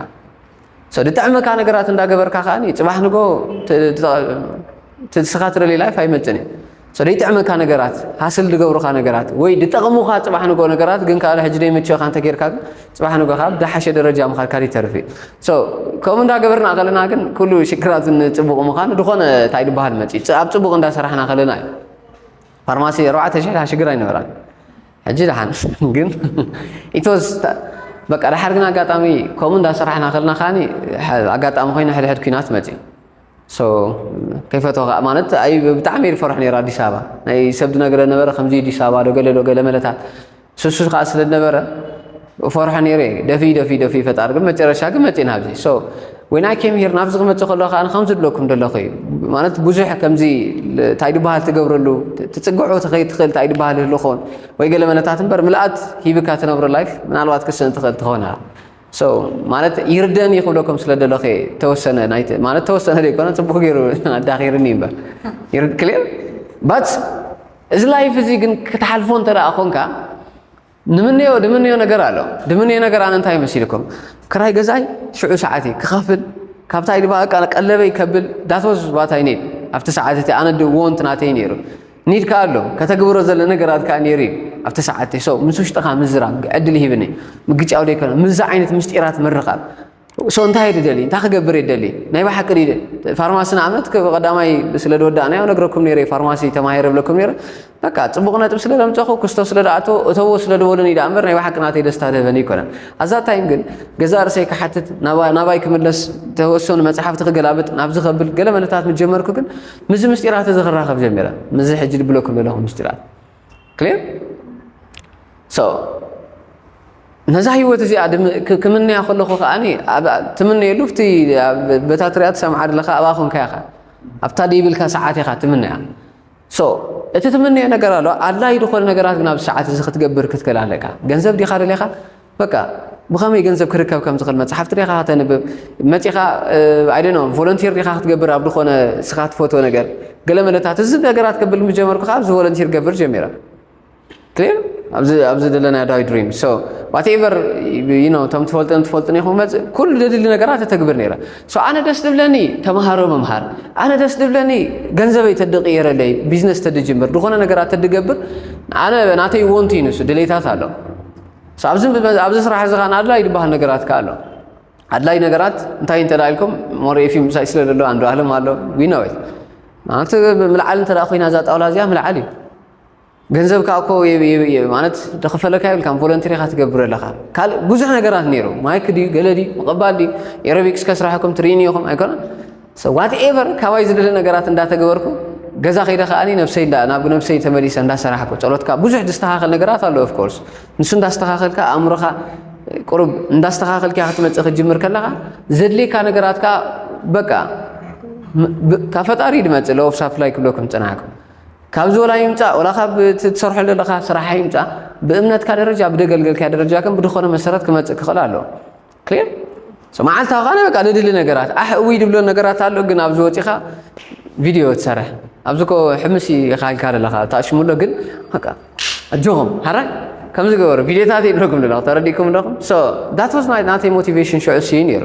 ሰው ድጥዕመካ ነገራት እንዳገበርካ ከዓኒ ፅባሕ ንጎ ትስኻ ትደልይ ላይፍ ኣይመፅን እዩ ሰው ደይጥዕመካ ነገራት ሃስል ድገብሩካ ነገራት ወይ ድጠቕሙኻ ፅባሕ ንጎ ነገራት ግን ከዓ ሕጂ ደይምችኻ እንተጌርካ ግን ፅባሕ ንጎ ከዓ ብዳሓሸ ደረጃ ምኻድካ ይተርፍ እዩ ሰው ከምኡ እንዳገበርና ከለና ግን ኩሉ ሽግራት ንፅቡቕ ምዃኑ ድኾነ እንታይ ድበሃል መፅኡ ኣብ ፅቡቕ እንዳሰራሕና ከለና እዩ ፋርማሲ ኣርባዕተ ሽሕ ሽግር ኣይነበራን ሕጂ ደሓን ግን it was በቃ ደሓር ግን ኣጋጣሚ ከምኡ እንዳሰራሕና ከለና ከዓኒ ኣጋጣሚ ኮይኑ ሕድሕድ ኩናት መጺኡ ሶ ከይፈትዎ ከዓ ማለት ኣይ ብጣዕሚ እየ ዝፈርሖ ነይረ ኣዲስ ኣበባ ናይ ሰብ ዝነግረ ነበረ ከምዚ ኣዲስ ኣበባ ዶ ገለ ዶ ገለ መለታት ስሱ ከዓ ስለ ዝነበረ እፈርሖ ነይረ እየ ደፊ ደፊ ደፊ ፈጣሪ ግን መጨረሻ ግን መፂና ኣብዚ ሶ ወይ ናይ ኬም ሂር ናብዚ ክመፅእ ከሎ ከዓ ከምዚ ድለኩም ደለኹ እዩ ማለት ብዙሕ ከምዚ እንታይ ድበሃል ትገብረሉ ትፅግዑ ትኸይ ትኽእል እንታይ ድበሃል ህልኾን ወይ ገለ መነታት እምበር ምልኣት ሂብካ ትነብሮ ላይፍ ምናልባት ክስእን ትኽእል ትኾን እያ ሶ ማለት ይርደኒ ክብለኩም ስለ ደለኹ እየ ተወሰነ ናይቲ ማለት ተወሰነ ዘይኮነ ፅቡቅ ገይሩ ኣዳኺርኒ እምበር ክሊር ባት እዚ ላይፍ እዚ ግን ክትሓልፎ እንተደኣ ኮንካ ንምነዮ ድምነዮ ነገር ኣሎ ድምነዮ ነገር ኣነ እንታይ መሲልኩም ክራይ ገዛይ ሽዑ ሰዓት እዩ ክኸፍል ካብታ ኢድ በቃ ቀለበይ ከብል ዳትወዝ ባታይ ኒድ ኣብቲ ሰዓት እቲ ኣነ ወንት ናተይ ነይሩ ኒድ ከዓ ኣሎ ከተግብሮ ዘለ ነገራት ከዓ ነይሩ እዩ ኣብቲ ሰዓት እቲ ሰው ምስ ውሽጥኻ ምዝራብ ዕድል ይህብኒ ምግጫው ደይኮነ ምዚ ዓይነት ምስጢራት ምርኻብ ሶ እንታይ ድደሊ እንታይ ክገብር እየ ደሊ ናይ ብሓቂ ድደ ፋርማሲ ንኣብነት ቀዳማይ ስለ ዝወዳእናዮ ነግረኩም ነይረ ፋርማሲ ተማሂረ ብለኩም ነይረ በቃ ፅቡቕ ነጥብ ስለ ዘምፀኹ ክስቶ ስለ ዝኣቶ እተዎ ስለ ዝበሉኒ ዳኣ እምበር ናይ ብሓቂ ናተይ ደስታ ዝህበኒ ይኮነን ኣዛ ታይም ግን ገዛ ርእሰይ ክሓትት ናባይ ክምለስ ተወሰኑ መፅሓፍቲ ክገላብጥ ናብዚ ከብል ገለ መለታት ምስ ጀመርኩ ግን ምዚ ምስጢራት እዚ ክራኸብ ጀሚረ ምዚ ሕጂ ድብለኩም ዘለኹ ምስጢራት ክሊር ሶ ነዛ ህይወት እዚኣ ክምነያ ከለኹ ከዓ ትምነየሉ እቲ በታ ትሪኣ ትሰምዓ ኣለካ ኣብኣ ኮንካ ኢኻ ኣብታ ደይብልካ ሰዓት ኢኻ ትምነያ ሶ እቲ ትምነዮ ነገር ኣሎ ኣድላዪ ዝኾነ ነገራት ግን ኣብዚ ሰዓት እዚ ክትገብር ክትክእል ኣለካ ገንዘብ ዲኻ ደሊኻ በቃ ብኸመይ ገንዘብ ክርከብ ከም ዝኽእል መጽሓፍቲ ዲኻ ከተንብብ መጺኻ ኣይ ዶንት ኖ ቮለንቲር ዲኻ ክትገብር ኣብ ዝኾነ ንስኻ ትፈትዎ ነገር ገለ መለታት እዚ ነገራት ክብል ምስ ጀመርኩ ከዓ ኣብዚ ቮለንቲር ገብር ጀሚረ ክሊር ኣብዚ ኣብዚ ዘለና ዳዊ ድሪም ሶ ዋትኤቨር ዩ ኖ እቶም ትፈልጥን ትፈልጥን ኢኹም መጽእ ኩሉ ደድሊ ነገራት ተተግብር ነይረ ሶ ኣነ ደስ ድብለኒ ተምሃሮ ምምሃር ኣነ ደስ ድብለኒ ገንዘበይ ተድቕየረለይ ቢዝነስ ተድጅምር ዝኾነ ነገራት ተድገብር ኣነ ናተይ ወንቱ እዩ ንሱ ድሌታት ኣሎ ኣብዚ ስራሕ እዚ ከኣ ኣድላይ ዝበሃል ነገራት ከኣ ኣሎ ኣድላይ ነገራት እንታይ እንተ ኢልኩም ሞሪኤፊ ምሳይ ስለ ዘሎ ኣንዶ ኣህለም ኣሎ ዊናወት ማለት ምልዓል እንተ ኮይና እዛ ጣውላ እዚኣ ምልዓል እዩ ገንዘብ ከዓ እኮ ማለት ደኽፈለካ የብልካን ቮለንቲር ኢኻ ትገብር ኣለኻ ካልእ ብዙሕ ነገራት ነይሩ ማይክ ድዩ ገለ ድዩ ምቕባል ድዩ ኤሮቢክስ ከስራሕኩም ትርኢኒ ኢኹም ኣይኮነን So whatever ካባይ ዝድለ ነገራት እንዳተገበርኩ ገዛ ከይደ ከዓኒ ነብሰይ እንዳ ናብ ነብሰይ ተመሊሰ እንዳሰራሕኩ ጸሎትካ ብዙሕ ዝስተኻኸል ነገራት ኣሎ ኦፍ ኮርስ ንሱ እንዳስተኻኸልካ ኣእምሮኻ ቁሩብ እንዳስተኻኸልካ ክትመጽእ ክትጅምር ከለኻ ዘድልየካ ነገራት ከዓ በቃ ካብ ፈጣሪ ድመጽእ ለኦፍ ሳፕላይ ክብለኩም ጽናሕኩ ካብዚ ወላ ይምጻእ ወላ ካብ ትሰርሖ ዘለኻ ስራሕ ይምጻእ ብእምነትካ ደረጃ ብደገልገልካ ደረጃ ከም ብድኾነ መሰረት ክመጽእ ክኽእል ኣለዎ ክሊር ሶ መዓልታዊ ካነ በቃ ንድሊ ነገራት ኣሕ እውይ ድብሎ ነገራት ኣሎ ግን ኣብዚ ወፂኻ ቪድዮ ትሰርሕ ኣብዚ ኮ ሕምስ ኢኻ ኢልካ ዘለኻ ተኣሽሙሎ ግን በቃ ኣጆኹም ሓራ ከምዚ ገበሩ ቪድዮታት ይብለኩም ዘለኹ ተረዲእኩም ኣለኹም ሶ ዳት ዋዝ ናተይ ሞቲቬሽን ሽዑ ስዩ ነይሩ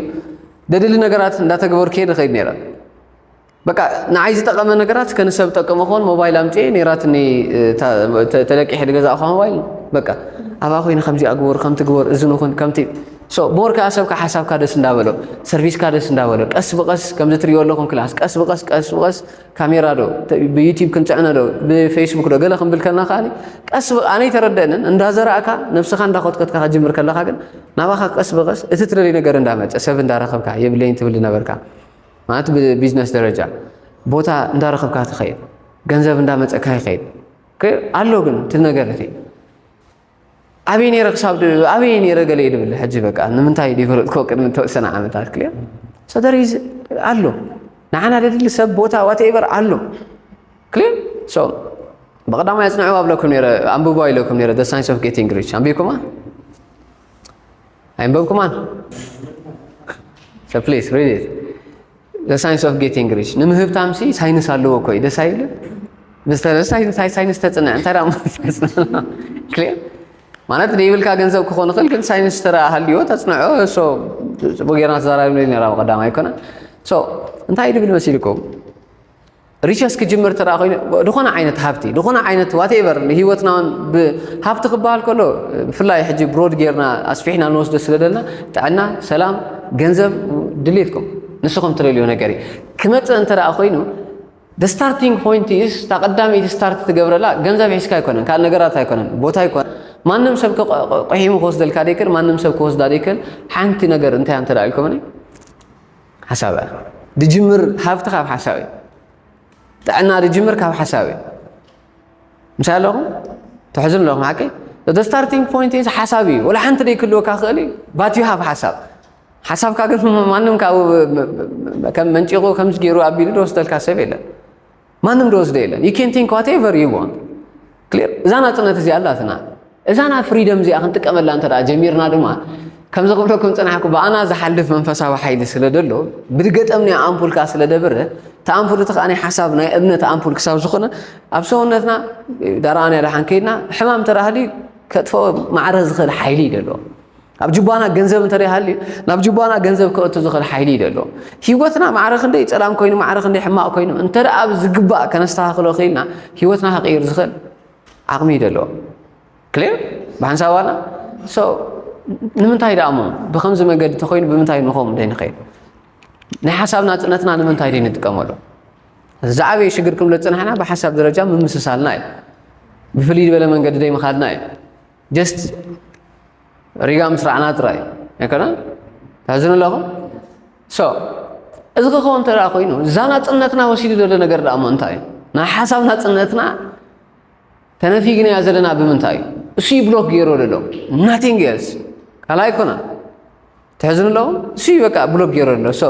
ደድሊ ነገራት እንዳተገበሩ ከይድ ንኸይድ ነይረ በቃ ንዓይ ዝጠቐመ ነገራት ከ ንሰብ ጠቅም ኾን ሞባይል ኣምፅኤ ነይራትኒ ተለቂሐ ዝገዛእኳ ሞባይል በቃ ኣብኣ ኮይነ ከምዚ ኣግበር ከምቲ ግበር እዚ ንኹን ከምቲ ሞር ከዓ ሰብካ ሓሳብካ ደስ እንዳበሎ ሰርቪስካ ደስ እንዳበሎ ቀስ ብቀስ ከምዚ ትሪኦ ኣለኹም ክላስ ቀስ ብቀስ ቀስ ብቀስ ካሜራ ዶ ብዩቲብ ክንፅዕነ ዶ ብፌስቡክ ዶ ገለ ክንብል ከለና ከዓ ቀስ ኣነ ይተረደአንን እንዳዘራእካ ነብስኻ እንዳኮትከትካ ከጅምር ከለካ ግን ናባኻ ቀስ ብቀስ እቲ ትደልይ ነገር እንዳመፀ ሰብ እንዳረኸብካ የብለይን ትብል ነበርካ ማለት ብቢዝነስ ደረጃ ቦታ እንዳረኸብካ ትኸይድ፣ ገንዘብ እንዳመፀካ ይኸይድ ኣሎ ግን እቲ ነገር እቲ ኣበይ ነይረ ክሳብ ኣበይ ነይረ ገለ እዩ ድብል ሕጂ በቃ ንምንታይ ይፈለጥኮ ቅድሚ ተወሰነ ዓመታት ክልያ ሰደር ኣሎ ንዓና ደድሊ ሰብ ቦታ ዋትኤቨር ኣሎ ክልያ ሶ ብቐዳማይ ኣፅንዕዋ ብለኩም ነይረ ኣንብቦ ኢለኩም ነይረ ደ ሳይንስ ኦፍ ጌቲንግ ሪች ኣንቢብኩማ ኣይንበብኩማን So please read it. The science of getting rich. ንምህብታም ሲ ሳይንስ ኣለዎ እኮ እዩ ደስ ኣይብል ሳይንስ ተፅንዕ እንታይ ክሊር ማለት ዘይብልካ ገንዘብ ክኾን ይኽእል ግን ሳይንስ ተራ ሃልዮ ተፅንዖ ፅቡቅ ጌርና ተዛራቢ ነራ ቀዳማ ኣይኮነ እንታይ ድብል መሲልኩም ሪቸስ ክጅምር ተደኣ ኮይኑ ዝኾነ ዓይነት ሃብቲ ዝኾነ ዓይነት ዋቴቨር ንሂወትና እውን ሃብቲ ክበሃል ከሎ ብፍላይ ሕጂ ብሮድ ጌርና ኣስፊሕና ንወስዶ ስለ ዘለና ጥዕና፣ ሰላም፣ ገንዘብ ድሌትኩም ንስኹም ትደልዮ ነገር እዩ ክመፅእ እንተ ኮይኑ the starting point is እታ ቀዳመይቲ ስታርት ትገብረላ ገንዘብ ሒዝካ ኣይኮነን ካልእ ነገራት ኣይኮነን ቦታ ኣይኮነን ማንም ሰብ ቁሒሙ ክወስደልካ ደይክእል ማንም ሰብ ክወስዳ ደይክእል ሓንቲ ነገር እንታይ እንተ ኢልኩምኒ ሓሳብ እያ ድጅምር ሃብቲ ካብ ሓሳብ እዩ ጥዕና ድጅምር ካብ ሓሳብ እዩ ምሳይ ኣለኹም ትሕዝን ኣለኹም ሓቂ እቲ ስታርቲንግ ፖይንት ኢዝ ሓሳብ እዩ ወላ ሓንቲ ደይክልወካ ክእል እዩ ባት ዩ ሃብ ሓሳብ ሓሳብካ ግን ማንም ካብ ከም መንጪቑ ከምዚ ገይሩ ኣቢሉ ዝወስደልካ ሰብ የለን ማንም ዝወስዶ የለን ዩ ኬን ቲንክ ዋት ኤቨር ዩ ዋንት ክሊር እዛ ናፅነት እዚኣ ኣላትና እዛ ናይ ፍሪደም እዚኣ ክንጥቀመላ እንተ ጀሚርና ድማ ከምዚ ክብለኩም ፅናሕኩ ብኣና ዝሓልፍ መንፈሳዊ ሓይሊ ስለ ደሎ ብገጠም ናይ ኣምፑልካ ስለ ደብረ እቲ ኣምፑል እቲ ከዓ ናይ ሓሳብ ናይ እምነት ኣምፑል ክሳብ ዝኾነ ኣብ ሰውነትና ዳርኣና ድሓን ከይድና ሕማም ተራህሊ ከጥፈኦ ማዕረ ዝኽእል ሓይሊ እዩ ደለዎ ኣብ ጅባና ገንዘብ እንተ ሃልዩ ናብ ጅባና ገንዘብ ክእቱ ዝኽእል ሓይሊ እዩ ዘሎ ሂወትና ማዕረ ክንደይ ፀላም ኮይኑ ማዕረ ክንደይ ሕማቕ ኮይኑ እንተ ኣብ ዝግባእ ከነስተኻኽሎ ክኢልና ሂወትና ክቕይር ዝኽእል ዓቕሚ እዩ ዘለዎ ክሊር ብሓንሳባና ሶ ንምንታይ ደኣ እሞ ብከምዚ መገዲ ተኮይኑ ብምንታይ ንኸም ደይ ንኸይድ ናይ ሓሳብ ናፅነትና ንምንታይ ደይ ንጥቀመሉ ዝዓበየ ሽግር ክንብለ ዝፅናሕና ብሓሳብ ደረጃ ምምስሳልና እዩ ብፍልይ ዝበለ መንገዲ ደይ ምኻድና እዩ ጀስት ሪጋ ምስ ራዕና ጥራይ ኣይኮነን ታዝኑ ኣለኹ ሶ እዚ ክኸውን እንተ ኮይኑ እዛ ናፅነትና ወሲዱ ዘሎ ነገር ደኣ እሞ እንታይ እዩ ናይ ሓሳብ ናፅነትና ተነፊግናያ ዘለና ብምንታይ እዩ እሱይ ብሎክ ገይሮ ዘሎ ናቲንግ ኤልስ ካልኣይ ኣይኮነን ተሕዝኑ ኣሎ እሱ በቃ ብሎክ ገይረ ኣሎ ሶ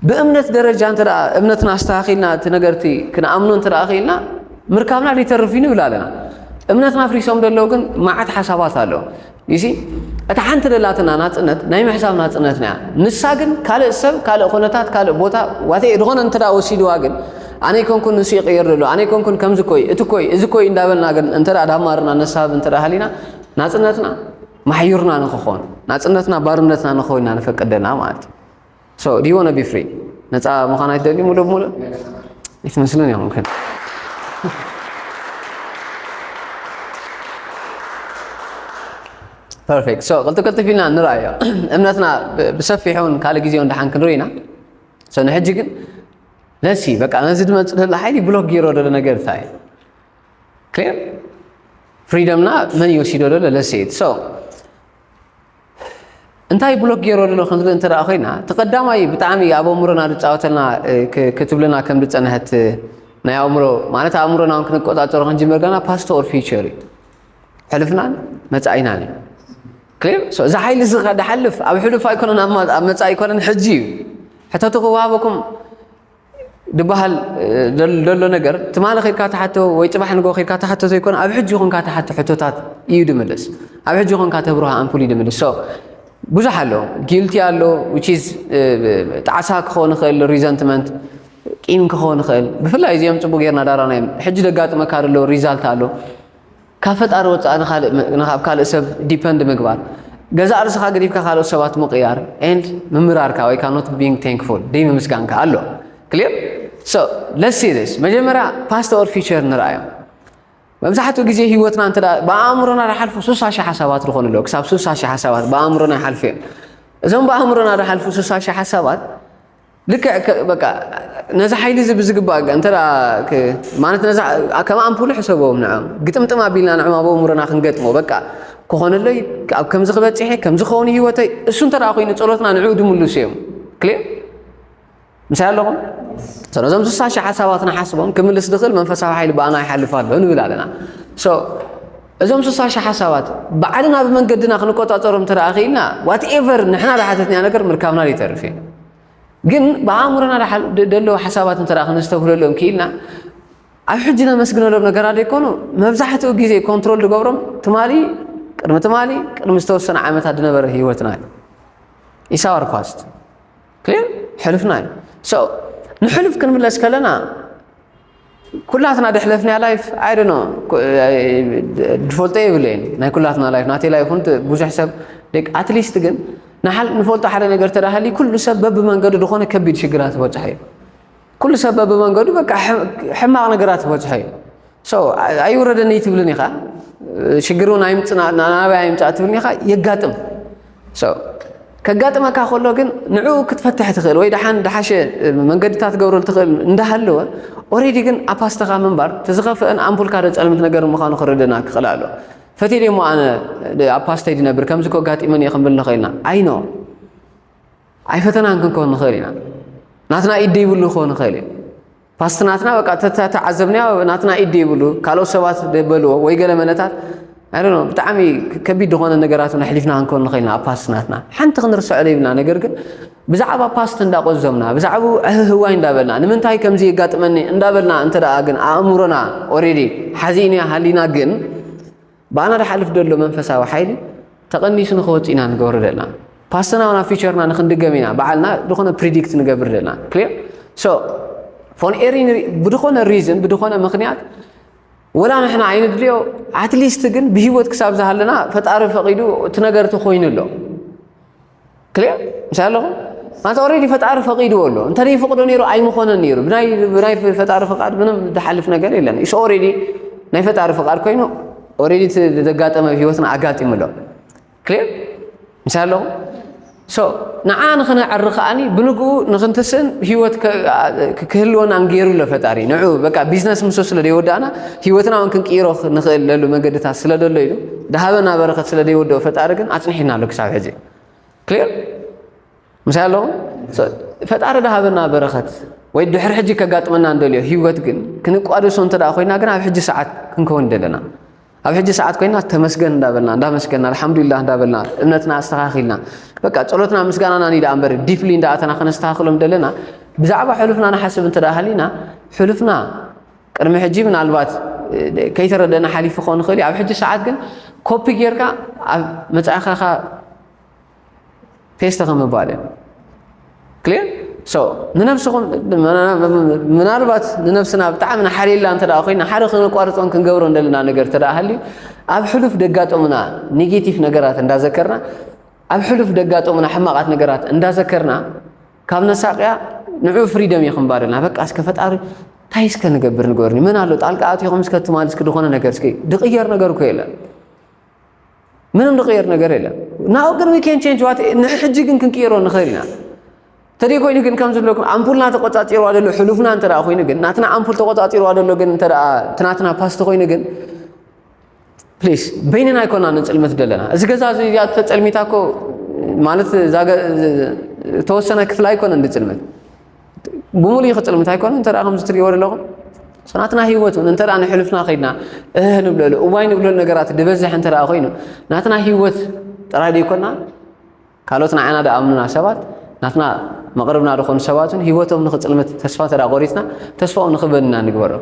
ብእምነት ደረጃ እንተ እምነትና ኣስተኻኺልና እቲ ነገርቲ ክንኣምኖ እንተ ክኢልና ምርካብና ሊተርፍ እዩ ንብል ኣለና እምነትና ፍሪሶም ደለዉ ግን መዓት ሓሳባት ኣሎ ይሲ እታ ሓንቲ ደላትና ናፅነት ናይ ምሕሳብ ናፅነትና እያ ንሳ ግን ካልእ ሰብ ካልእ ኩነታት ካልእ ቦታ ዋተ ዝኾነ እንተ ወሲድዋ ግን ኣነ ኮንኩን ንሱ ይቕየር ደሎ ኣነ ኮንኩን ከምዚ ኮይ እቲ ኮይ እዚ ኮይ እንዳበልና ግን እንተ ዳማርና ነሳብ እንተ ሃሊና ናፅነትና ማሕዩርና ንክኾን ናጽነትና ባርነትና ንክኸውን ኢና ነፈቅድ ዘለና ማለት እዩ። ሶ ዱ ዩ ዋና ቢ ፍሪ ነጻ ምዃን ኣይትደልዩ ሙሉእ ብሙሉእ ኣይትመስልን እዮም ግን ፐርፌክት ሶ ቅልጥፍ ቅልጥፍ ኢልና ንርኣዮ እምነትና ብሰፊሑን ካልእ ግዜ እውን ደሓን ክንርኢ ኢና ሶ ንሕጂ ግን ለሲ በቃ ነዚ ድመፅእ ዘሎ ሓይሊ ብሎክ ገይሮ ደሎ ነገር እንታይ እዩ ክሊር ፍሪደምና መን እዩ ወሲዶ ዘሎ ለሴት ሶ እንታይ ብሎክ ገይሮ ኣሎ ከምዚ እንተ ኮይና እቲ ቀዳማይ ብጣዕሚ ኣብ ኣእምሮና ዝፃወተልና ክትብለና ከም ዝፀንሐት ናይ ኣእምሮ ማለት ኣእምሮና እውን ክንቆፃፀሮ ክንጅምር ገና ፓስት ኦር ፊቸር እዩ ሕልፍናን መፃኢናን እዩ ክሊር እዚ ሓይሊ እዚ ከዳሓልፍ ኣብ ሕሉፍ ኣይኮነን ኣብ መፃኢ ኣይኮነን ሕጂ እዩ ሕተቱ ክወሃበኩም ድበሃል ደሎ ነገር ትማሊ ከድካ ትሓቶ ወይ ፅባሕ ንጎ ከድካ ትሓቶ ዘይኮነ ኣብ ሕጂ ኮንካ ትሓቶ ሕቶታት እዩ ድምልስ ኣብ ሕጂ ኮንካ ተብርሃ ኣምፑል እዩ ድምልስ ሶ ብዙሕ ኣሎ ጊልቲ ኣሎ ዊችዝ ጣዕሳ ክኸውን ይኽእል ሪዘንትመንት ቂም ክኸውን ይኽእል ብፍላይ እዚኦም ፅቡቅ ጌርና ዳራናዮም ሕጂ ደጋጥመካ ደሎ ሪዛልት ኣሎ ካብ ፈጣሪ ወፃኢ ንካልእ ኣብ ካልእ ሰብ ዲፐንድ ምግባር ገዛእ ርስኻ ገዲፍካ ካልኦት ሰባት ምቕያር and ምምራርካ ወይ ከዓ not being thankful ደይምምስጋንካ ኣሎ ክሊር so let's see this መጀመርያ past or future ንርኣዮም መብዛሕትኡ ግዜ ህይወትና እንተ ብኣእምሮና ዝሓልፉ ስሳ ሽሕ ሓሳባት ዝኾኑ ኣለዉ ክሳብ ስሳ ሽሕ ሓሳባት ብኣእምሮና ይሓልፉ እዮም እዞም ብኣእምሮና ዝሓልፉ ስሳ ሽሕ ሓሳባት ልክዕ ከ በቃ ነዚ ሓይሊ እዚ ብዝግባእ ገ- እንተ ደኣ ክ- ማለት ነዚ ኣ- ከም ኣምፑል ሕሰቦም ንዕም ግጥምጥም ኣቢልና ንዕም ኣብ ኣእምሮና ክንገጥሞ በቃ ክኾነለይ ኣብ ከምዚ ክበፅሐ ከምዚ ክኸውን ህይወተይ እሱ እንተ ደኣ ኮይኑ ጸሎትና ንዕኡ ድምልሱ እዮም ክልእ ምሳይ ኣለኹም ስለዞም ስሳ ሽሕ ሓሳባት ንሓስቦም ክምልስ ዝኽእል መንፈሳዊ ሓይሊ ብኣና ይሓልፍ ኣሎ ንብል ኣለና ሶ እዞም ስሳ ሽሓ ሳባት ባዕልና ብመንገድና ክንቆጻጸሮም እንተደኣ ክኢልና ዋትኤቨር ንሕና ዝሓተትናዮ ነገር ምርካብና ዘይተርፍ እዩ። ግን ብኣእምሮና ደለዉ ሓሳባት እንተደኣ ክነስተብህለሎም ክኢልና ኣብ ሕጂ ነመስግነሎም ነገራት ዘይኮኑ መብዛሕትኡ ግዜ ኮንትሮል ዝገብሮም ትማሊ ቅድሚ ትማሊ ቅድሚ ዝተወሰነ ዓመታት ዝነበረ ህይወትና እዩ ኢሳዋር ፓስት ክሊር ሕሉፍና እዩ ንሕሉፍ ክንምለስ ከለና ኩላትና ደሕለፍናያ ላይፍ ኣይ ዶኖ ድፈልጦ የብለይን ናይ ኩላትና ላይፍ ናተይ ላይፍ እውን ብዙሕ ሰብ ኣትሊስት ግን ንሓል ንፈልጦ ሓደ ነገር ተዳሃሊ ኩሉ ሰብ በብመንገዱ ዝኾነ ከቢድ ሽግራት ዝበፅሐ እዩ ኩሉ ሰብ በብመንገዱ በቃ ሕማቕ ነገራት ዝበፅሐ እዩ ሶ ኣይውረደኒ ትብልን ኢኻ ሽግር እውን ኣይምፅና ናበይ ኣይምፃእ ትብልን ኢኻ የጋጥም So ከጋጥመካ ከሎ ግን ንዕኡ ክትፈትሕ ትኽእል ወይ ደሓን ደሓሸ መንገድታት ትገብረሉ ትኽእል እንዳሃለወ ኦሬዲ ግን ኣብ ፓስተኻ ምንባር እቲ ዝኸፍአን ኣምፑልካ ዶ ጸልምት ነገር ምዃኑ ክርደና ክኽእል ኣሎ ፈትየ ደሞ ኣነ ኣብ ፓስተይ ድነብር ከምዚ ኮ ኣጋጢመን እየ ክንብል ንኽእል ኢና ኣይኖ ኣይፈተናን ክንኮን ንኽእል ኢና ናትና ኢድ ይብሉ ክኾን ይኽእል እዩ ፓስት ናትና በቃ ተተዓዘብናዮ ናትና ኢድ ይብሉ ካልኦት ሰባት በልዎ ወይ ገለ መለታት ኣይ ዶንት ኖ ብጣዕሚ ከቢድ ዝኾነ ነገራት እውን ኣሕሊፍና ክንከውን ንኽእል ኢና ኣብ ፓስት ናትና ሓንቲ ክንርስዖ ዘይብልና ነገር ግን ብዛዕባ ፓስት እንዳቆዘምና ብዛዕባ ህዋይ እንዳበልና ንምንታይ ከምዚ የጋጥመኒ እንዳበልና እንተ ግን ኣእምሮና ኦሬዲ ሓዚእና ሃሊና ግን ብኣና ድሓልፍ ደሎ መንፈሳዊ ሓይሊ ተቐኒሱ ንክወጽእ ኢና ንገብሮ ደልና ፓስተና ናብ ፊቸርና ንክንድገም ኢና በዓልና ዝኾነ ፕሪዲክት ንገብር ደልና ክሊር ሶ ፎን ኤሪ ብድኾነ ሪዝን ብድኾነ ምክንያት ወላ ንሕና ኣይንድልዮ ኣትሊስት ግን ብሂወት ክሳብ ዝሃለና ፈጣሪ ፈቂዱ እቲ ነገር ተኮይኑ ኣሎ ክሊር ምሳይ ኣለኹም ማለት ኦልሬዲ ፈጣሪ ፈቂድዎ ኣሎ እንተዘይፈቅዶ ነይሩ ኣይምኾነን ነይሩ ብናይ ብናይ ፈጣሪ ፍቃድ ምንም ዝሓልፍ ነገር የለን ኢስ ኦልሬዲ ናይ ፈጣሪ ፍቃድ ኮይኑ ኦልሬዲ እቲ ዘጋጠመ ህይወትና ኣጋጢሙ ኣሎ ክሊር ምሳይ ኣለኹም ሶ ንዓ ንክነዕሪ ከዓኒ ብንግኡ ንክንትስእን ህይወት ክህልወና ንገይሩ ኣሎ ፈጣሪ ንዑ በቃ ቢዝነስ ምስ ስለ ዘይወዳእና ህይወትና እውን ክንቅይሮ ንኽእል ለሉ መንገድታት ስለ ዘሎ ኢሉ ድሃበና በረከት ስለ ዘይወደኦ ፈጣሪ ግን ኣጽኒሕና ኣሎ ክሳብ ሕዚ ክሊር ምሳይ ኣለኹም ፈጣሪ ድሃበና በረከት ወይ ድሕሪ ሕጂ ከጋጥመና እንደልዮ ህይወት ግን ክንቋደሶ እንተ ኮይና ግን ኣብ ሕጂ ሰዓት ክንከውን ደለና ኣብ ሕጂ ሰዓት ኮይና ተመስገን እንዳበልና እንዳመስገና ኣልሓምዱሊላ እንዳበልና እምነትና ኣስተኻኺልና በቃ ጸሎትና ምስጋናና ኒ ደኣ እምበር ዲፕሊ እንዳኣተና ከነስተኻኽሎም ደለና ብዛዕባ ሕሉፍና ንሓስብ እንተ ሃሊና ሕሉፍና ቅድሚ ሕጂ ምናልባት ከይተረደና ሓሊፉ ክኸውን ይኽእል እዩ ኣብ ሕጂ ሰዓት ግን ኮፒ ጌርካ ኣብ መጻኢኻኻ ፔስተ ከምባል እዩ ክሊር ሶ ንነብስኹም ምናልባት ንነብስና ብጣዕሚ ንሓልየላ እንተ ኮይና ሓደ ክነቋርፆን ክንገብሮ እንደለና ነገር እንተ ሃልዩ ኣብ ሕሉፍ ደጋጠሙና ኔጌቲቭ ነገራት እንዳዘከርና ኣብ ሕሉፍ ደጋጠሙና ሕማቓት ነገራት እንዳዘከርና ካብ መሳቅያ ንዑ ፍሪደም እየ ክንባርልና በቃ እስከ ፈጣሪ እንታይ እስከ ንገብር ንገርኒ ምን ኣሎ ጣልቃ ኣትኹም እስከ ትማል እስኪ ዝኾነ ነገር እስኪ ድቕየር ነገር እኮ የለን ምንም ድቕየር ነገር የለን ናው ግን ዊ ኬን ቼንጅ ዋት ንሕጂ ግን ክንቅይሮ ንኽእል ኢና ተደይ ኮይኑ ግን ከም ዝብለኩም ኣምፑልና ተቆፃፂርዋ ዘሎ ሕሉፍና እንተ ኮይኑ ግን ናትና ኣምፑል ተቆፃፂርዋ ዘሎ ግን እንተ እቲ ናትና ፓስቲ ኮይኑ ግን ፕሊስ በይንና ኣይኮና ንፅልምት ዘለና እዚ ገዛ እዚ እዚኣ ተፀልሚታ እኮ ማለት ተወሰነ ክፍላ ኣይኮነ እንዲ ፅልምት ብምሉእ እዩ ክፅልምት ኣይኮነ እንተ ከምዚ ትሪእዎ ዘለኹም ናትና ሂወት እውን እንተ ንሕሉፍና ከይድና እህ ንብለሉ እዋይ ንብለሉ ነገራት ዝበዝሕ እንተ ኮይኑ ናትና ሂወት ጥራይ ዘይኮና ካልኦት ንዓና ድኣምኑና ሰባት ናትና መቕርብና ድኾኑ ሰባት እውን ህይወቶም ንኽጽልምት ተስፋ እንተ ቆሪጽና ተስፋኦም ንኽበንና ንግበሮ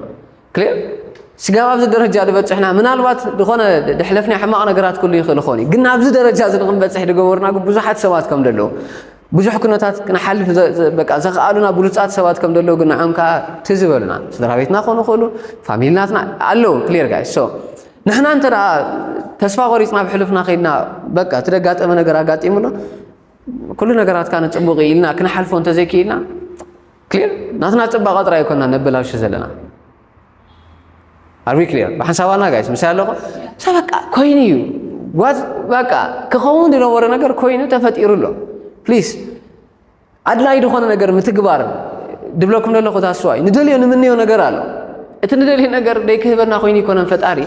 ክልእ ስጋብ ኣብዚ ደረጃ ድበጽሕና ምናልባት ዝኾነ ድሕለፍና ሕማቕ ነገራት ክሉ ይኽእል ይኾን እዩ ግን ናብዚ ደረጃ እዚ ንኽንበጽሕ ድገበሩና ግን ብዙሓት ሰባት ከም ደለዉ ብዙሕ ኩነታት ክንሓልፍ በቃ ዘኽኣሉና ብሉፃት ሰባት ከም ደለዉ ግን ንዖም ከዓ ትዝ በሉና ስድራ ቤትና ክኾኑ ይኽእሉ ፋሚልናትና ኣለዉ ክሊር ጋይ ሶ ንሕና እንተ ተስፋ ቆሪፅና ብሕሉፍና ከይድና በቃ እቲ ደጋጠመ ነገር ኣጋጢሙና ኩሉ ነገራት ካነ ፅቡቅ ኢልና ክንሓልፎ እንተዘይክኢልና ክሊር ናትና ፅባቐ ጥራይ ኮና ነበላሹ ዘለና ኣርቢ ክሊር ብሓንሳባና ጋይስ ምሳይ ኣለኹ ሳ በቃ ኮይኑ እዩ በቃ ክኸውን ዝነበረ ነገር ኮይኑ ተፈጢሩ ኣሎ ፕሊስ ኣድላዪ ዝኾነ ነገር ምትግባር ድብለኩም ዘለኹ ታስዋይ ንደልዮ ንምንዮ ነገር ኣሎ እቲ ንደልዮ ነገር ደይክህበና ኮይኑ ይኮነን ፈጣሪ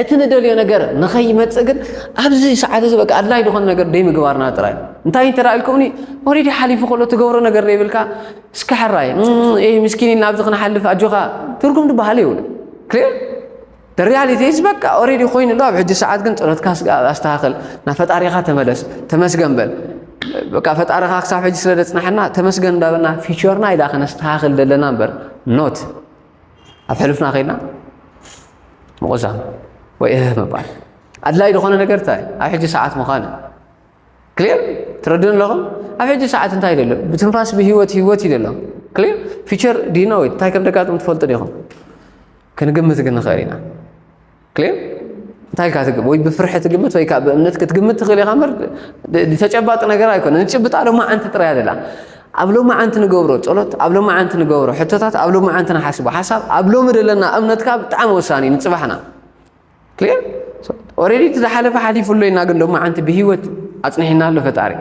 እቲ ንደልዮ ነገር ንኸይመፅእ ግን ኣብዚ ሰዓት እዚ በቃ ኣድላይ ዝኾነ ነገር ደይምግባርና ጥራይ እንታይ እንተ ኢልኩምኒ ኦሬዲ ሓሊፉ ከሎ ትገብሮ ነገር ዘይብልካ እስከ ሕራይ ምስኪን ኢልና ኣብዚ ክንሓልፍ ኣጆኻ ትርጉም ድበሃል የብሉ ክልል The reality is በቃ ኦሬዲ ኮይኑሎ ኣብ ሕጂ ሰዓት ግን ጸሎትካ ኣስተኻኽል ናብ ፈጣሪኻ ተመለስ ተመስገን በል በቃ ፈጣሪኻ ክሳብ ሕጂ ስለ ዘጽናሐና ተመስገን እንዳበልና ፊቸርና ኢላ ከነስተኻኽል ዘለና እምበር ኖት ኣብ ሕሉፍና ከይድና ምቑዛም ወይ እህ ምባል ኣድላይ ዝኾነ ነገር እንታይ ኣብ ሕጂ ሰዓት ምዃን ክሊር ትረድኡን ኣለኹም ኣብ ሕጂ ሰዓት እንታይ ይደሎ ብትንፋስ ብሂወት ሂወት ይደሎ ክሊር ፊቸር ዲኖዊት እንታይ ከም ደጋጥም ትፈልጡ ዲኹም ክንግምት ግን ንኽእል ኢና ክሊር እንታይ ኢልካ ትግምት ወይ ብፍርሒ ትግምት ወይ ከዓ ብእምነት ክትግምት ትኽእል ኢኻ ምር ተጨባጢ ነገር ኣይኮነ ንጭብጣ ሎማዓንቲ ጥራይ ኣደላ ኣብ ሎማዓንቲ ንገብሮ ጸሎት ኣብ ሎማዓንቲ ንገብሮ ሕቶታት ኣብ ሎማዓንቲ ንሓስቦ ሓሳብ ኣብ ሎሚ ዘለና እምነትካ ብጣዕሚ ወሳኒ ንጽባሕና ክሊር ኦልሬዲ እቲ ዝሓለፈ ሓሊፉ ኣሎ ኢና ግን ሎማዓንቲ ብሂወት ኣፅኒሕና ኣሎ ፈጣሪ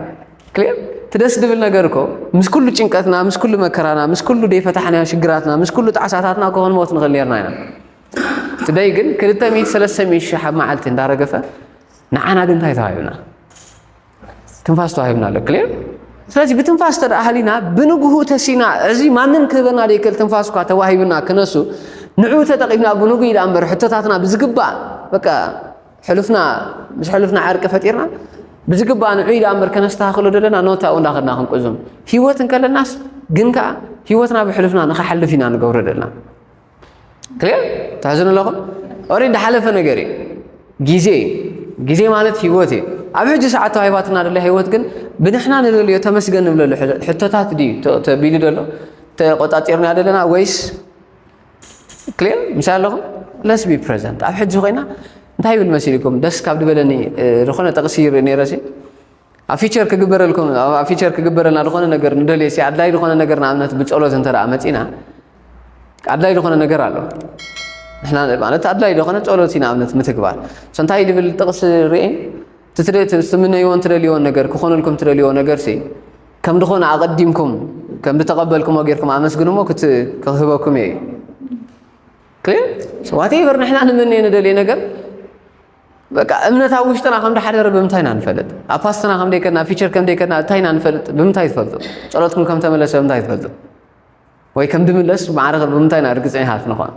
ክሊር እቲ ደስ ዝብል ነገር እኮ ምስ ኩሉ ጭንቀትና ምስ ኩሉ መከራና ምስ ኩሉ ደይፈታሕናዮ ሽግራትና ምስ ኩሉ ጣዕሳታትና እኮ ክንሞት ንኽእል ነርና ኢና ትደይ ግን ክልተ ሚእቲ ሰለስተ ሚእቲ ሽሕ ኣብ መዓልቲ እንዳረገፈ ንዓና ግን እንታይ ተዋሂብና ትንፋስ ተዋሂብና ኣሎ ክልር ስለዚህ ብትንፋስ ተደኣ ሃሊና ብንግሁ ተሲና እዚ ማንም ክህበና ደይክእል ትንፋስ እኳ ተዋሂብና ክነሱ ንዕኡ ተጠቂምና ብንጉ ኢዳ እምበር ሕቶታትና ብዝግባእ በቃ ሕሉፍና ምስ ሕሉፍና ዕርቂ ፈጢርና ብዝግባእ ንዑ ኢዳ እምበር ከነስተኻኽሎ ዘለና ኖታኡ እንዳኸድና ክንቁዙም ሂወት እንከለናስ ግን ከዓ ሂወትና ብሕሉፍና ንክሓልፍ ኢና ንገብሮ ዘለና ክሊር ትሕዝኑ ኣለኹም ኦሬዲ ሓለፈ ነገር እዩ ግዜ እዩ ግዜ ማለት ህይወት እዩ ኣብ ሕጂ ሰዓት ተዋሂባትና ደሎ ህይወት ግን ብንሕና ንደልዮ ተመስገን ንብለሉ ሕቶታት ድዩ ተቢሉ ደሎ ተቆፃፂርና ደለና ወይስ ክሊር ምሳይ ኣለኹም ለስ ቢ ፕሬዘንት ኣብ ሕጂ ኮይና እንታይ ይብል መሲልኩም ደስ ካብ ድበለኒ ዝኾነ ጠቕሲ ይርኢ ነይረሲ ኣብ ፊቸር ክግበረልኩም ኣብ ፊቸር ክግበረልና ዝኾነ ነገር ንደልየ ሲ ኣድላይ ዝኾነ ነገር ንኣብነት ብጸሎት እንተ ደኣ መጺና ኣድላይ ዝኾነ ነገር ኣሎ ንሕና ማለት ኣድላይ ዝኾነ ጸሎት እዩ ንኣብነት ምትግባር ሶ እንታይ ድብል ጥቕስ ርኤ ትምነይዎን ትደልይዎን ነገር ክኾነልኩም ትደልይዎ ነገር ሲ ከም ዝኾነ ኣቐዲምኩም ከም ዝተቐበልኩሞ ጌርኩም ኣመስግንሞ ክህበኩም እየ እዩ ዋቴቨር ንሕና ንመነየ ንደልየ ነገር በቃ እምነት ኣብ ውሽጥና ከም ድሓደረ ብምንታይ ኢና ንፈልጥ? ኣብ ፓስትና ከም ደይከድና ፊቸር ከም ደይከድና እንታይ ኢና ንፈልጥ? ብምንታይ ትፈልጡ? ጸሎትኩም ከም ተመለሰ ብምንታይ ትፈልጡ? ወይ ከም ድምለስ ማዕረ ብምንታይ ኢና ርግጸኛታት ንኾን?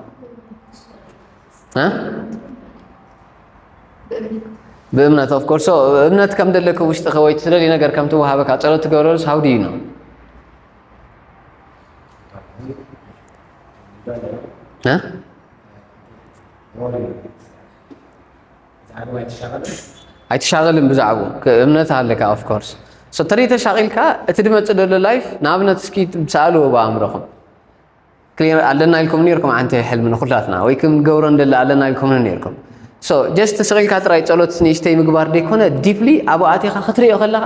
ብእምነት ኦፍ ኮርስ እምነት ከም ደለከ ውሽጥኸ ወይ ትደልዩ ነገር ከም ትወሃበካ ጸሎት ትገብረሉስ ሃው ድዩ ነው እ ኣይትሻቐልን ብዛዕቡ እምነት ኣለካ ኦፍ ኮርስ ሰተሪ ተሻቒልካ እቲ ድመፅእ ደሎ ላይፍ ንኣብነት እስኪ ሰኣልዎ ብኣእምሮኹም ክሊር ኣለና ኢልኩም ነርኩም ዓንቲ ሕልሚ ንኩላትና ወይ ክም ገብሮ እንደለ ኣለና ኢልኩም ነርኩም ሶ ጀስት ስቒልካ ጥራይ ጸሎት ንእሽተይ ምግባር ደይኮነ ዲፕሊ ኣብኡ ኣቲኻ ክትሪኦ ከለኻ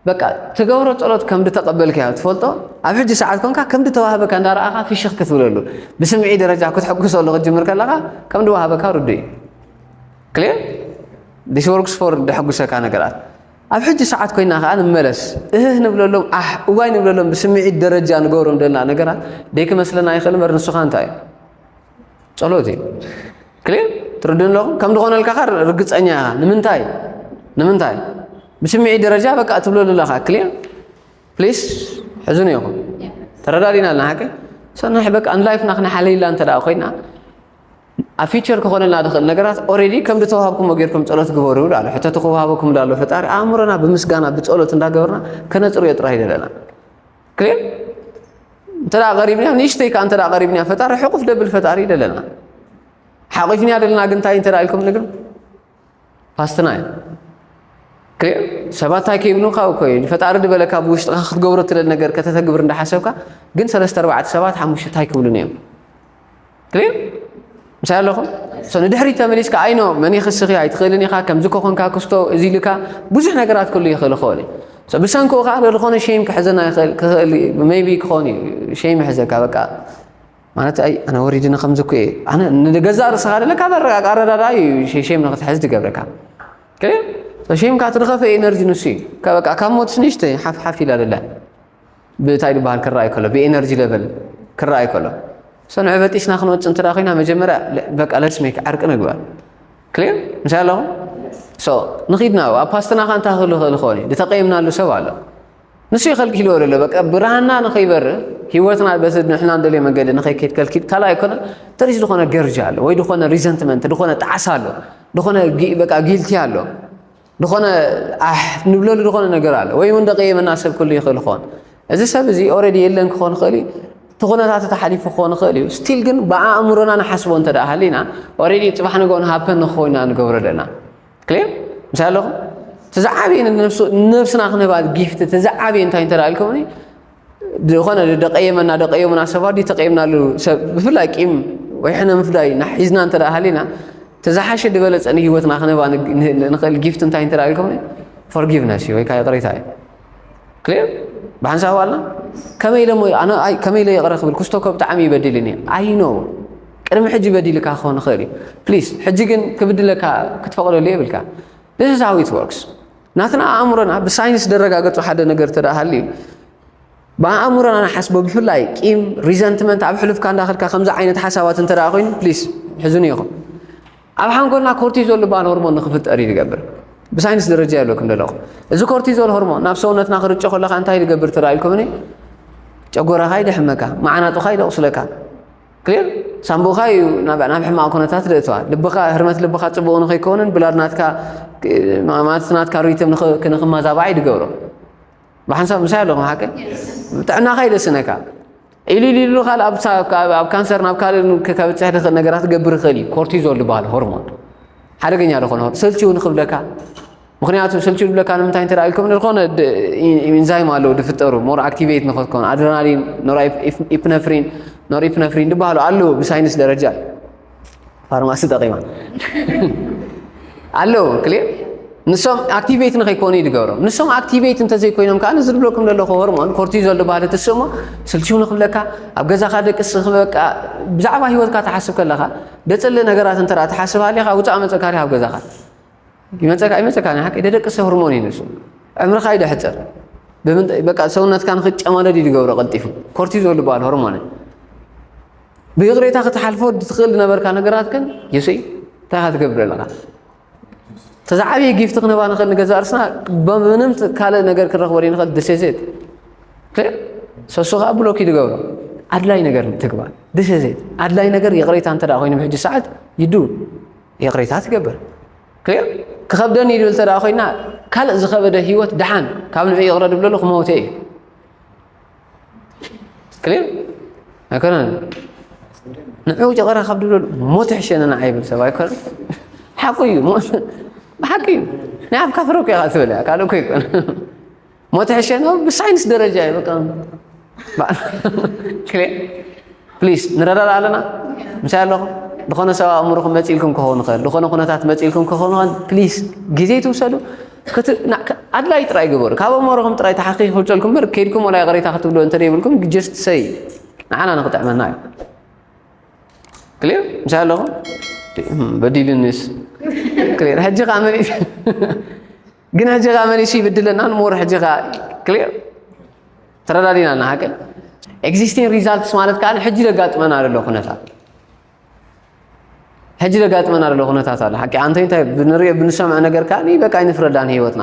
በቃ ትገብሮ ጸሎት ከም ድተቐበልካዮ ትፈልጦ ኣብ ሕጂ ሰዓት ኮንካ ከም ድተዋህበካ እንዳረኣኻ ፍሽኽ ክትብለሉ ብስምዒ ደረጃ ክትሕጉሰሉ ክትጅምር ከለኻ ከም ድዋህበካ ርዱእ እዩ ክሊር ዲስ ወርክስ ፎር ደሐጉሰካ ነገራት ኣብ ሕጂ ሰዓት ኮይና ከዓ ንመለስ እህህ ንብለሎም ኣሕ እዋይ ንብለሎም ብስምዒት ደረጃ ንገብሮም ደልና ነገራት ደይክመስለና ይኽእል እምበር ንሱኻ እንታይ እዩ ጸሎት እዩ ክሊር ትርድኡ ኣለኹም ከም ዝኾነልካ ኸ ርግጸኛ ኢኻ ንምንታይ ንምንታይ ብስምዒት ደረጃ በቃ እትብለሉ ኣለኻ ክሊር ፕሊስ ሕዝኑ ይኹም ተረዳዲና ኣለና ሓቂ ሰናሕ በቃ ንላይፍና ክነሓለይላ እንተ ደኣ ኮይና ኣብ ፊቸር ክኾነልና ዝኽእል ነገራት ኦሬዲ ከም ዝተዋሃብኩሞ ጌርኩም ጸሎት ግበሩ ይብሉ ኣሎ ሕተቱ ክወሃበኩም ዳሎ ፈጣሪ ኣእምሮና ብምስጋና ብጸሎት እንዳገበርና ከነጽርዮ ጥራይ ደለና ግን እንተ ቀሪብንያ ንእሽተይ ከዓ እንተ ቀሪብንያ ፈጣሪ ሕቁፍ ደብል ፈጣሪ ደለና ሓቂፍንያ ደለና ግን እንታይ እንተ ኢልኩም ንግር ፓስትና እዩ ክሊር ሰባት እንታይ ከይብሉካ እኮ እዩ ፈጣሪ ድበለካ ብውሽጥካ ክትገብሮ ትደል ነገር ከተተግብር እንዳሓሰብካ ግን ሰለስተ ኣርባዕተ ሰባት ሓሙሽተ እንታይ ክብሉን እዮም ክሊር ምሳይ ኣለኹም ሶ ንድሕሪት ተመሊስካ ኣይኖ መን ይኽስኺ ኣይትኽእልን ኢኻ ከምዚ ኮኾንካ ክስቶ እዚ ኢልካ ብዙሕ ነገራት ክሉ ይኽእል ይኸውን እዩ ሶ ብሰንክኡ ከዓ ዝኾነ ሸይም ክሕዘና ይኽእል ክኽእል ሜቢ ክኾን እዩ ሸይም ይሕዘካ በቃ ማለት ኣይ ኣነ ወሪድኒ ከምዚ እኮ እየ ኣነ ንገዛእ ርእስኻ ደለ ካብ ኣረጋግ ኣረዳዳ እዩ ሸይም ንኽትሕዝ ትገብረካ ሸይምካ ትርኸፈ ኤነርጂ ንሱ እዩ በቃ ካብ ሞትስ ንእሽተይ ሓፍሓፍ ኢላ ደላ ብእታይ ድበሃል ክረኣይ ከሎ ብኤነርጂ ለቨል ክረኣይ ከሎ ሰንዑ በጢስና ክንወፅ እንተ ኮይና መጀመርያ በቃ ለትስ ሜክ ዕርቂ ንግበር ክሊር ምሳይ ኣለኹ ሶ ንኺድና ኣብ ፓስትና ካ እንታይ ክህሉ ክእል ክኾን እዩ ዝተቀየምናሉ ሰብ ኣሎ ንሱ ይኸልኪልዎ ዘሎ በቃ ብርሃና ንኸይበር ሂወትና በቲ ንሕና ንደልዮ መንገዲ ንኸይከይድ ከልኪል ካልኣ ኣይኮነ ተሪስ ዝኾነ ገርጃ ኣሎ ወይ ዝኾነ ሪዘንትመንት ዝኾነ ጣዕሳ ኣሎ ዝኾነ በቃ ጊልቲ ኣሎ ዝኾነ ኣሕ ንብለሉ ዝኾነ ነገር ኣሎ ወይ እውን ደቀየመና ሰብ ክህሉ ይኽእል ይኸውን እዚ ሰብ እዚ ኦረዲ የለን ክኾን ይኽእል እዩ እቲ ኩነታት እቲ ሓሊፉ ክኾን ይኽእል እዩ ስቲል ግን ብኣእምሮና ንሓስቦ እንተ ደኣ ሃሊና ኦረዲ ፅባሕ ንግኦ ንሃብተን ንክኾይና ንገብሮ ኣለና ክሊር ምስ ኣለኹም እቲ ዝዓበየ ንነብስና ክንህባ ጊፍቲ እቲ ዝዓበየ እንታይ እንተ ኢልኩምኒ ዝኾነ ደቀየመና ደቀየሙና ሰባት ድዩ ተቀየምናሉ ሰብ ብፍላይ ቂም ወይ ሕነ ምፍዳይ ሒዝና እንተ ሃሊና ተዝሓሸ ዝበለፀ ንሂወትና ክንህባ ንኽእል ጊፍት እንታይ እንተ ኢልኩም ፎርጊቭነስ እዩ ወይ ከዓ ይቕሬታ እዩ ክሊር ብሓንሳብ ኣልና ከመይ ኢለ ኣነ ከመይ ኢለ ይቕረ ክብል ክስቶ ከ ብጣዕሚ ይበድልኒ ኣይኖ ቅድሚ ሕጂ በዲልካ ክኸውን ይኽእል እዩ ፕሊስ ሕጂ ግን ክብድለካ ክትፈቕደሉ የብልካ ዚስ ኢዝ ሃው ኢት ወርክስ ናትና ኣእምሮና ብሳይንስ ደረጋገጹ ሓደ ነገር ተደኣ ሃልዩ ብኣእምሮና ንሓስቦ ብፍላይ ቂም ሪዘንትመንት ኣብ ሕሉፍካ እንዳኸድካ ከምዚ ዓይነት ሓሳባት እንተ ደኣ ኮይኑ ፕሊስ ሕዝኑ ኢኹም ኣብ ሓንጎልና ኮርቲዞል ዝበሃል ሆርሞን ንክፍጠር እዩ ዝገብር ብሳይንስ ደረጃ የብለኩም ደለኹ እዚ ኮርቲዞል ሆርሞን ናብ ሰውነትና ክርጮ ከለካ እንታይ ዝገብር ተራኢልኩምኒ ጨጎራኻ ይደሕመካ መዓናጡኻ ይደቑስለካ ክሊር ሳንቡእካ እዩ ናብ ናብ ሕማቕ ኩነታት ዘእትዋ ልብኻ ህርመት ልብኻ ጽቡቕ ንኸይከውንን ብላድ ናትካ ማለት ናትካ ሪትም ንኽመዛባዕ እዩ ዝገብሮ ብሓንሳብ ምሳይ ኣለኹም ሓቂ ጥዕናኻ እዩ ዘስነካ ኢሉ ኢሉ ኢሉ ካል ኣብ ኣብ ካንሰር ናብ ካልእ ከብጽሕ ዝኽእል ነገራት ክገብር ይኽእል እዩ ኮርቲዞል ዝበሃል ሆርሞን ሓደገኛ ዝኾነ ሰልችውን ክብለካ ምክንያቱ ስልችው ዝብለካ ንምንታይ እንተ ኢልኩም ዝኾነ ኢንዛይም ኣለዉ ዝፍጠሩ ሞር ኣክቲቬት ንኸትኮኑ ኣድረናሊን ኖር ኢፕነፍሪን ኖር ኢፕነፍሪን ዝበሃሉ ኣለዉ ብሳይንስ ደረጃ ፋርማሲ ጠቂማ ኣለዉ ክልር ንሶም ኣክቲቬት ንኸይኮኑ እዩ ዝገብሮም ንሶም ኣክቲቬት እንተዘይኮይኖም ከዓ እዚ ዝብለኩም ዘለኹ ሆርሞን ኮርቲዞል ዝበሃለ ትስእሞ ስልችው ንክብለካ ኣብ ገዛኻ ደቅስ በቃ ብዛዕባ ሂወትካ ትሓስብ ከለኻ ደፅሊ ነገራት እንተ ትሓስብ ሃሊኻ ውፃእ መፀካ ኣብ ገዛኻ ይመፀካ ይመፀካ ናይ ሓቂ ደደቂ ሰብ ሆርሞን እዩ ንሱ ዕምርካ ይደሕፅር በቃ ሰውነትካ ንክጨማደድ እዩ ዝገብሮ ቀልጢፉ ኮርቲዞል ዝበሃል ሆርሞን ብይቕሬታ ክትሓልፎ ትኽእል ዝነበርካ ነገራት ግን የሱይ እንታይ ካ ትገብር ኣለካ ተዛ ዓብዪ ጊፍቲ ክንባ ንኽእል ንገዛ እርስና ብምንም ካልእ ነገር ክንረኽቦ ንኽእል ድሴዜት ሰሱ ከዓ ብሎክ እዩ ዝገብሮ ኣድላይ ነገር ትግባር ድሴዜት ኣድላይ ነገር ይቕሬታ እንተ ኮይኑ ብሕጂ ሰዓት ይዱ ይቕሬታ ትገብር ክሊር ክኸብደኒ ይብል እንተ ደኣ ኮይና ካልእ ዝኸበደ ህይወት ደሓን ካብ ንዑ ይቕረ ድብለሉ ክመውተ እዩ ክሊር ኣይኮነን ንዑ ይቕረ ካብ ድብለሉ ሞት ሕሸኒ ንዓ ይብል ሰብ ኣይኮነ ሓቁ እዩ ብሓቂ እዩ ናይ ኣፍካ ፍረ እኮ ኢኻ ትብል እያ ካልእ እኮ ይኮነ ሞት ሕሸ ነው ብሳይንስ ደረጃ እዩ በቃ ፕሊስ ንረዳዳ ኣለና ምሳይ ኣለኹ ዝኾነ ሰብ ኣእምሮኹም መፂልኩም ክኸውን ይኽእል ዝኾነ ኩነታት መፂልኩም ክኸውን ይኽእል ፕሊስ ግዜ ትውሰዱ ኣድላይ ጥራይ ግበሩ ካብ ኣእምሮኹም ጥራይ ተሓኪ ክብፀልኩም በር ከይድኩም ወላ ይቕሬታ ክትብሉ እንተደይብልኩም ጀስት ሰይ ንዓና ንክጥዕመና እዩ ክሊር ምሳይ ኣለኹ በዲልንስ ክሊር ሕጂ ከዓ መን ግን ሕጂ ከ መሊሱ ይብድለና ንሞር ሕጂ ከ ክሊር ተረዳዲና እና ሃቀ ኤግዚስቲንግ ሪዛልትስ ማለት ከዓ ሕጂ ደጋጥመና ዘሎ ኩነታት ሕጂ ደጋጥመና ዘሎ ኩነታት ኣሎ ሓቂ ኣንተ እንታይ ብንሪኦ ብንሰምዐ ነገር ከዓ በቃ ይንፍረዳን ህይወትና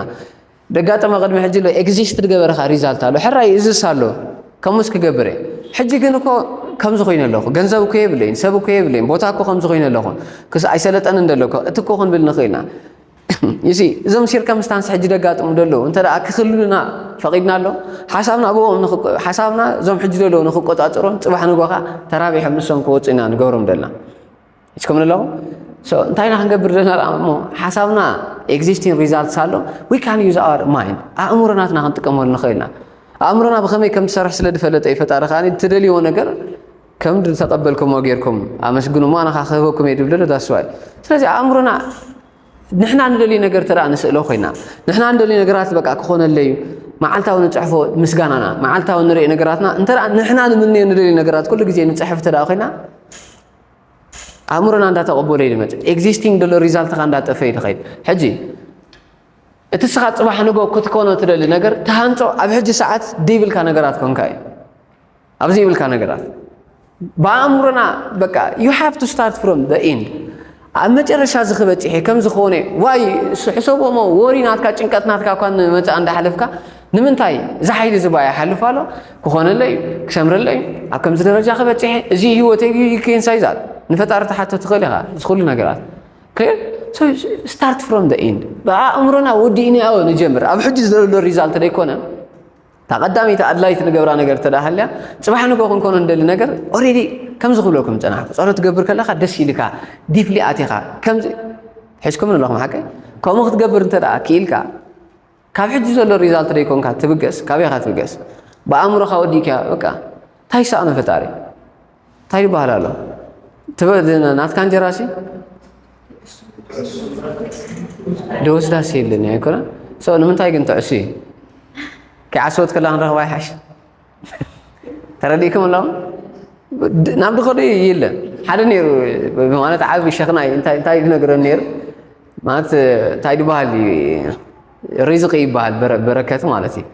ደጋጠመ ቅድሚ ሕጂ ሎ ኤግዚስት ዝገበረካ ሪዛልት ኣሎ ሕራይ እዝስ ኣሎ ከምኡስ ክገብር እየ ሕጂ ግን እኮ ከምዚ ኮይነ ኣለኹ ገንዘብ እኮ የብለይን ሰብ እኮ የብለይን ቦታ እኮ ከምዚ ኮይነ ኣለኹ ክስ ኣይሰለጠንን ደለኮ እቲ እኮ ክንብል ንኽእልና ይሲ እዞም ሲርከምስታንስ ሕጂ ደጋጥሙ ደለዉ እንተ ክክልሉና ፈቒድና ኣሎ ሓሳብና ኣብኦም ሓሳብና እዞም ሕጂ ዘለዉ ንክቆፃፀሮም ፅባሕ ንጎኻ ተራቢሖም ንሶም ክወፁ ኢና ንገብሮም ደልና እስከምን ኣለኹ እንታይ ኢና ክንገብር ዘለና እሞ ሓሳብና ኤግዚስቲን ሪዛልትስ ኣሎ ዊ ካን ዩዝ ኣር ማይን ኣእምሮናትና ክንጥቀመሉ ንኽእል ኢና ኣእምሮና ብኸመይ ከም ትሰርሕ ስለ ዝፈለጠ እዩ ፈጣሪ ከዓ ትደልይዎ ነገር ከም ዝተቀበልኩሞ ጌርኩም ኣመስግኑ እሞ ኣነ ከኣ ክህበኩም እየ ድብል ዶ ዳስ ዋይ ስለዚ ኣእምሮና ንሕና ንደልዩ ነገር ተደኣ ንስእሎ ኮይና ንሕና ንደልዩ ነገራት በቃ ክኾነለዩ መዓልታዊ ንፅሕፎ ምስጋናና መዓልታዊ ንሪኦ ነገራትና እንተ ንሕና ንምንዮ ንደልዩ ነገራት ኩሉ ግዜ ንፅሕፍ እንተ ኮይና ኣእምሮና እንዳተቐበሎ እዩ ዝመፅእ ኤግዚስቲንግ ደሎ ሪዛልትኻ እንዳጠፈ እዩ ዝኸይድ ሕጂ እቲ ስኻ ፅባሕ ንጎ ክትኮኖ ትደሊ ነገር ተሃንፆ ኣብ ሕጂ ሰዓት ደይብልካ ነገራት ኮንካ እዩ ኣብ ዘይብልካ ነገራት ብኣእምሮና በቃ ዩ ሃቭ ቱ ስታርት ፍሮም ዘ ኢንድ ኣብ መጨረሻ እዚ ክበፅሐ ከምዚ ክኾነ ዋይ ሕሰቦሞ ወሪ ናትካ ጭንቀት ናትካ እኳ ንመፃእ እንዳሓለፍካ ንምንታይ እዚ ሓይሊ ዝባ ይሓልፍ ኣሎ ክኾነለ እዩ ክሰምረለ እዩ ኣብ ከምዚ ደረጃ ክበፅሐ እዚ ህይወት ኬንሳይ ዛት ንፈጣሪ ተሓቶ ትኽእል ኢኻ እዚ ኩሉ ነገራት ስታርት ፍሮም ዘ ኢንድ ብኣእምሮና ወዲእናዮ ንጀምር ኣብ ሕጂ ዘሎ ሪዛልት ደይኮነ እታ ቀዳመይቲ ኣድላይት ንገብራ ነገር እንተ ሃልያ ፅባሕ ንጎ ክንኮኖ ንደሊ ነገር ኦሬዲ ከምዚ ክብለኩም ፀናሕኩ ፀሎት ትገብር ከለካ ደስ ኢልካ ዲፕሊ ኣቲኻ ከምዚ ሒዝኩም ኣለኹም ሓቂ ከምኡ ክትገብር እንተ ክኢልካ ካብ ሕጂ ዘሎ ሪዛልት ደይኮንካ ትብገስ ካበይካ ትብገስ ብኣእምሮካ ወዲእካ በቃ እንታይ ይሰኣኖ ፈጣሪ እንታይ ይበሃል ኣሎ ናትካ እንጀራ ሲ ደወስዳስ የለን ኣይኮነ ሰው ንምንታይ ግን ትዕሱ እዩ ከይዓሰወት ከላ ክንረኽባ ይሓሽ ተረዲእኩም ኣለኹም ናብ ድኸዶ የለን ሓደ ነይሩ ማለት ዓብ ሸኽና እንታይ ዝነግረን ነይሩ ማለት እንታይ ድበሃል እዩ ሪዝቂ ይበሃል በረከት ማለት እዩ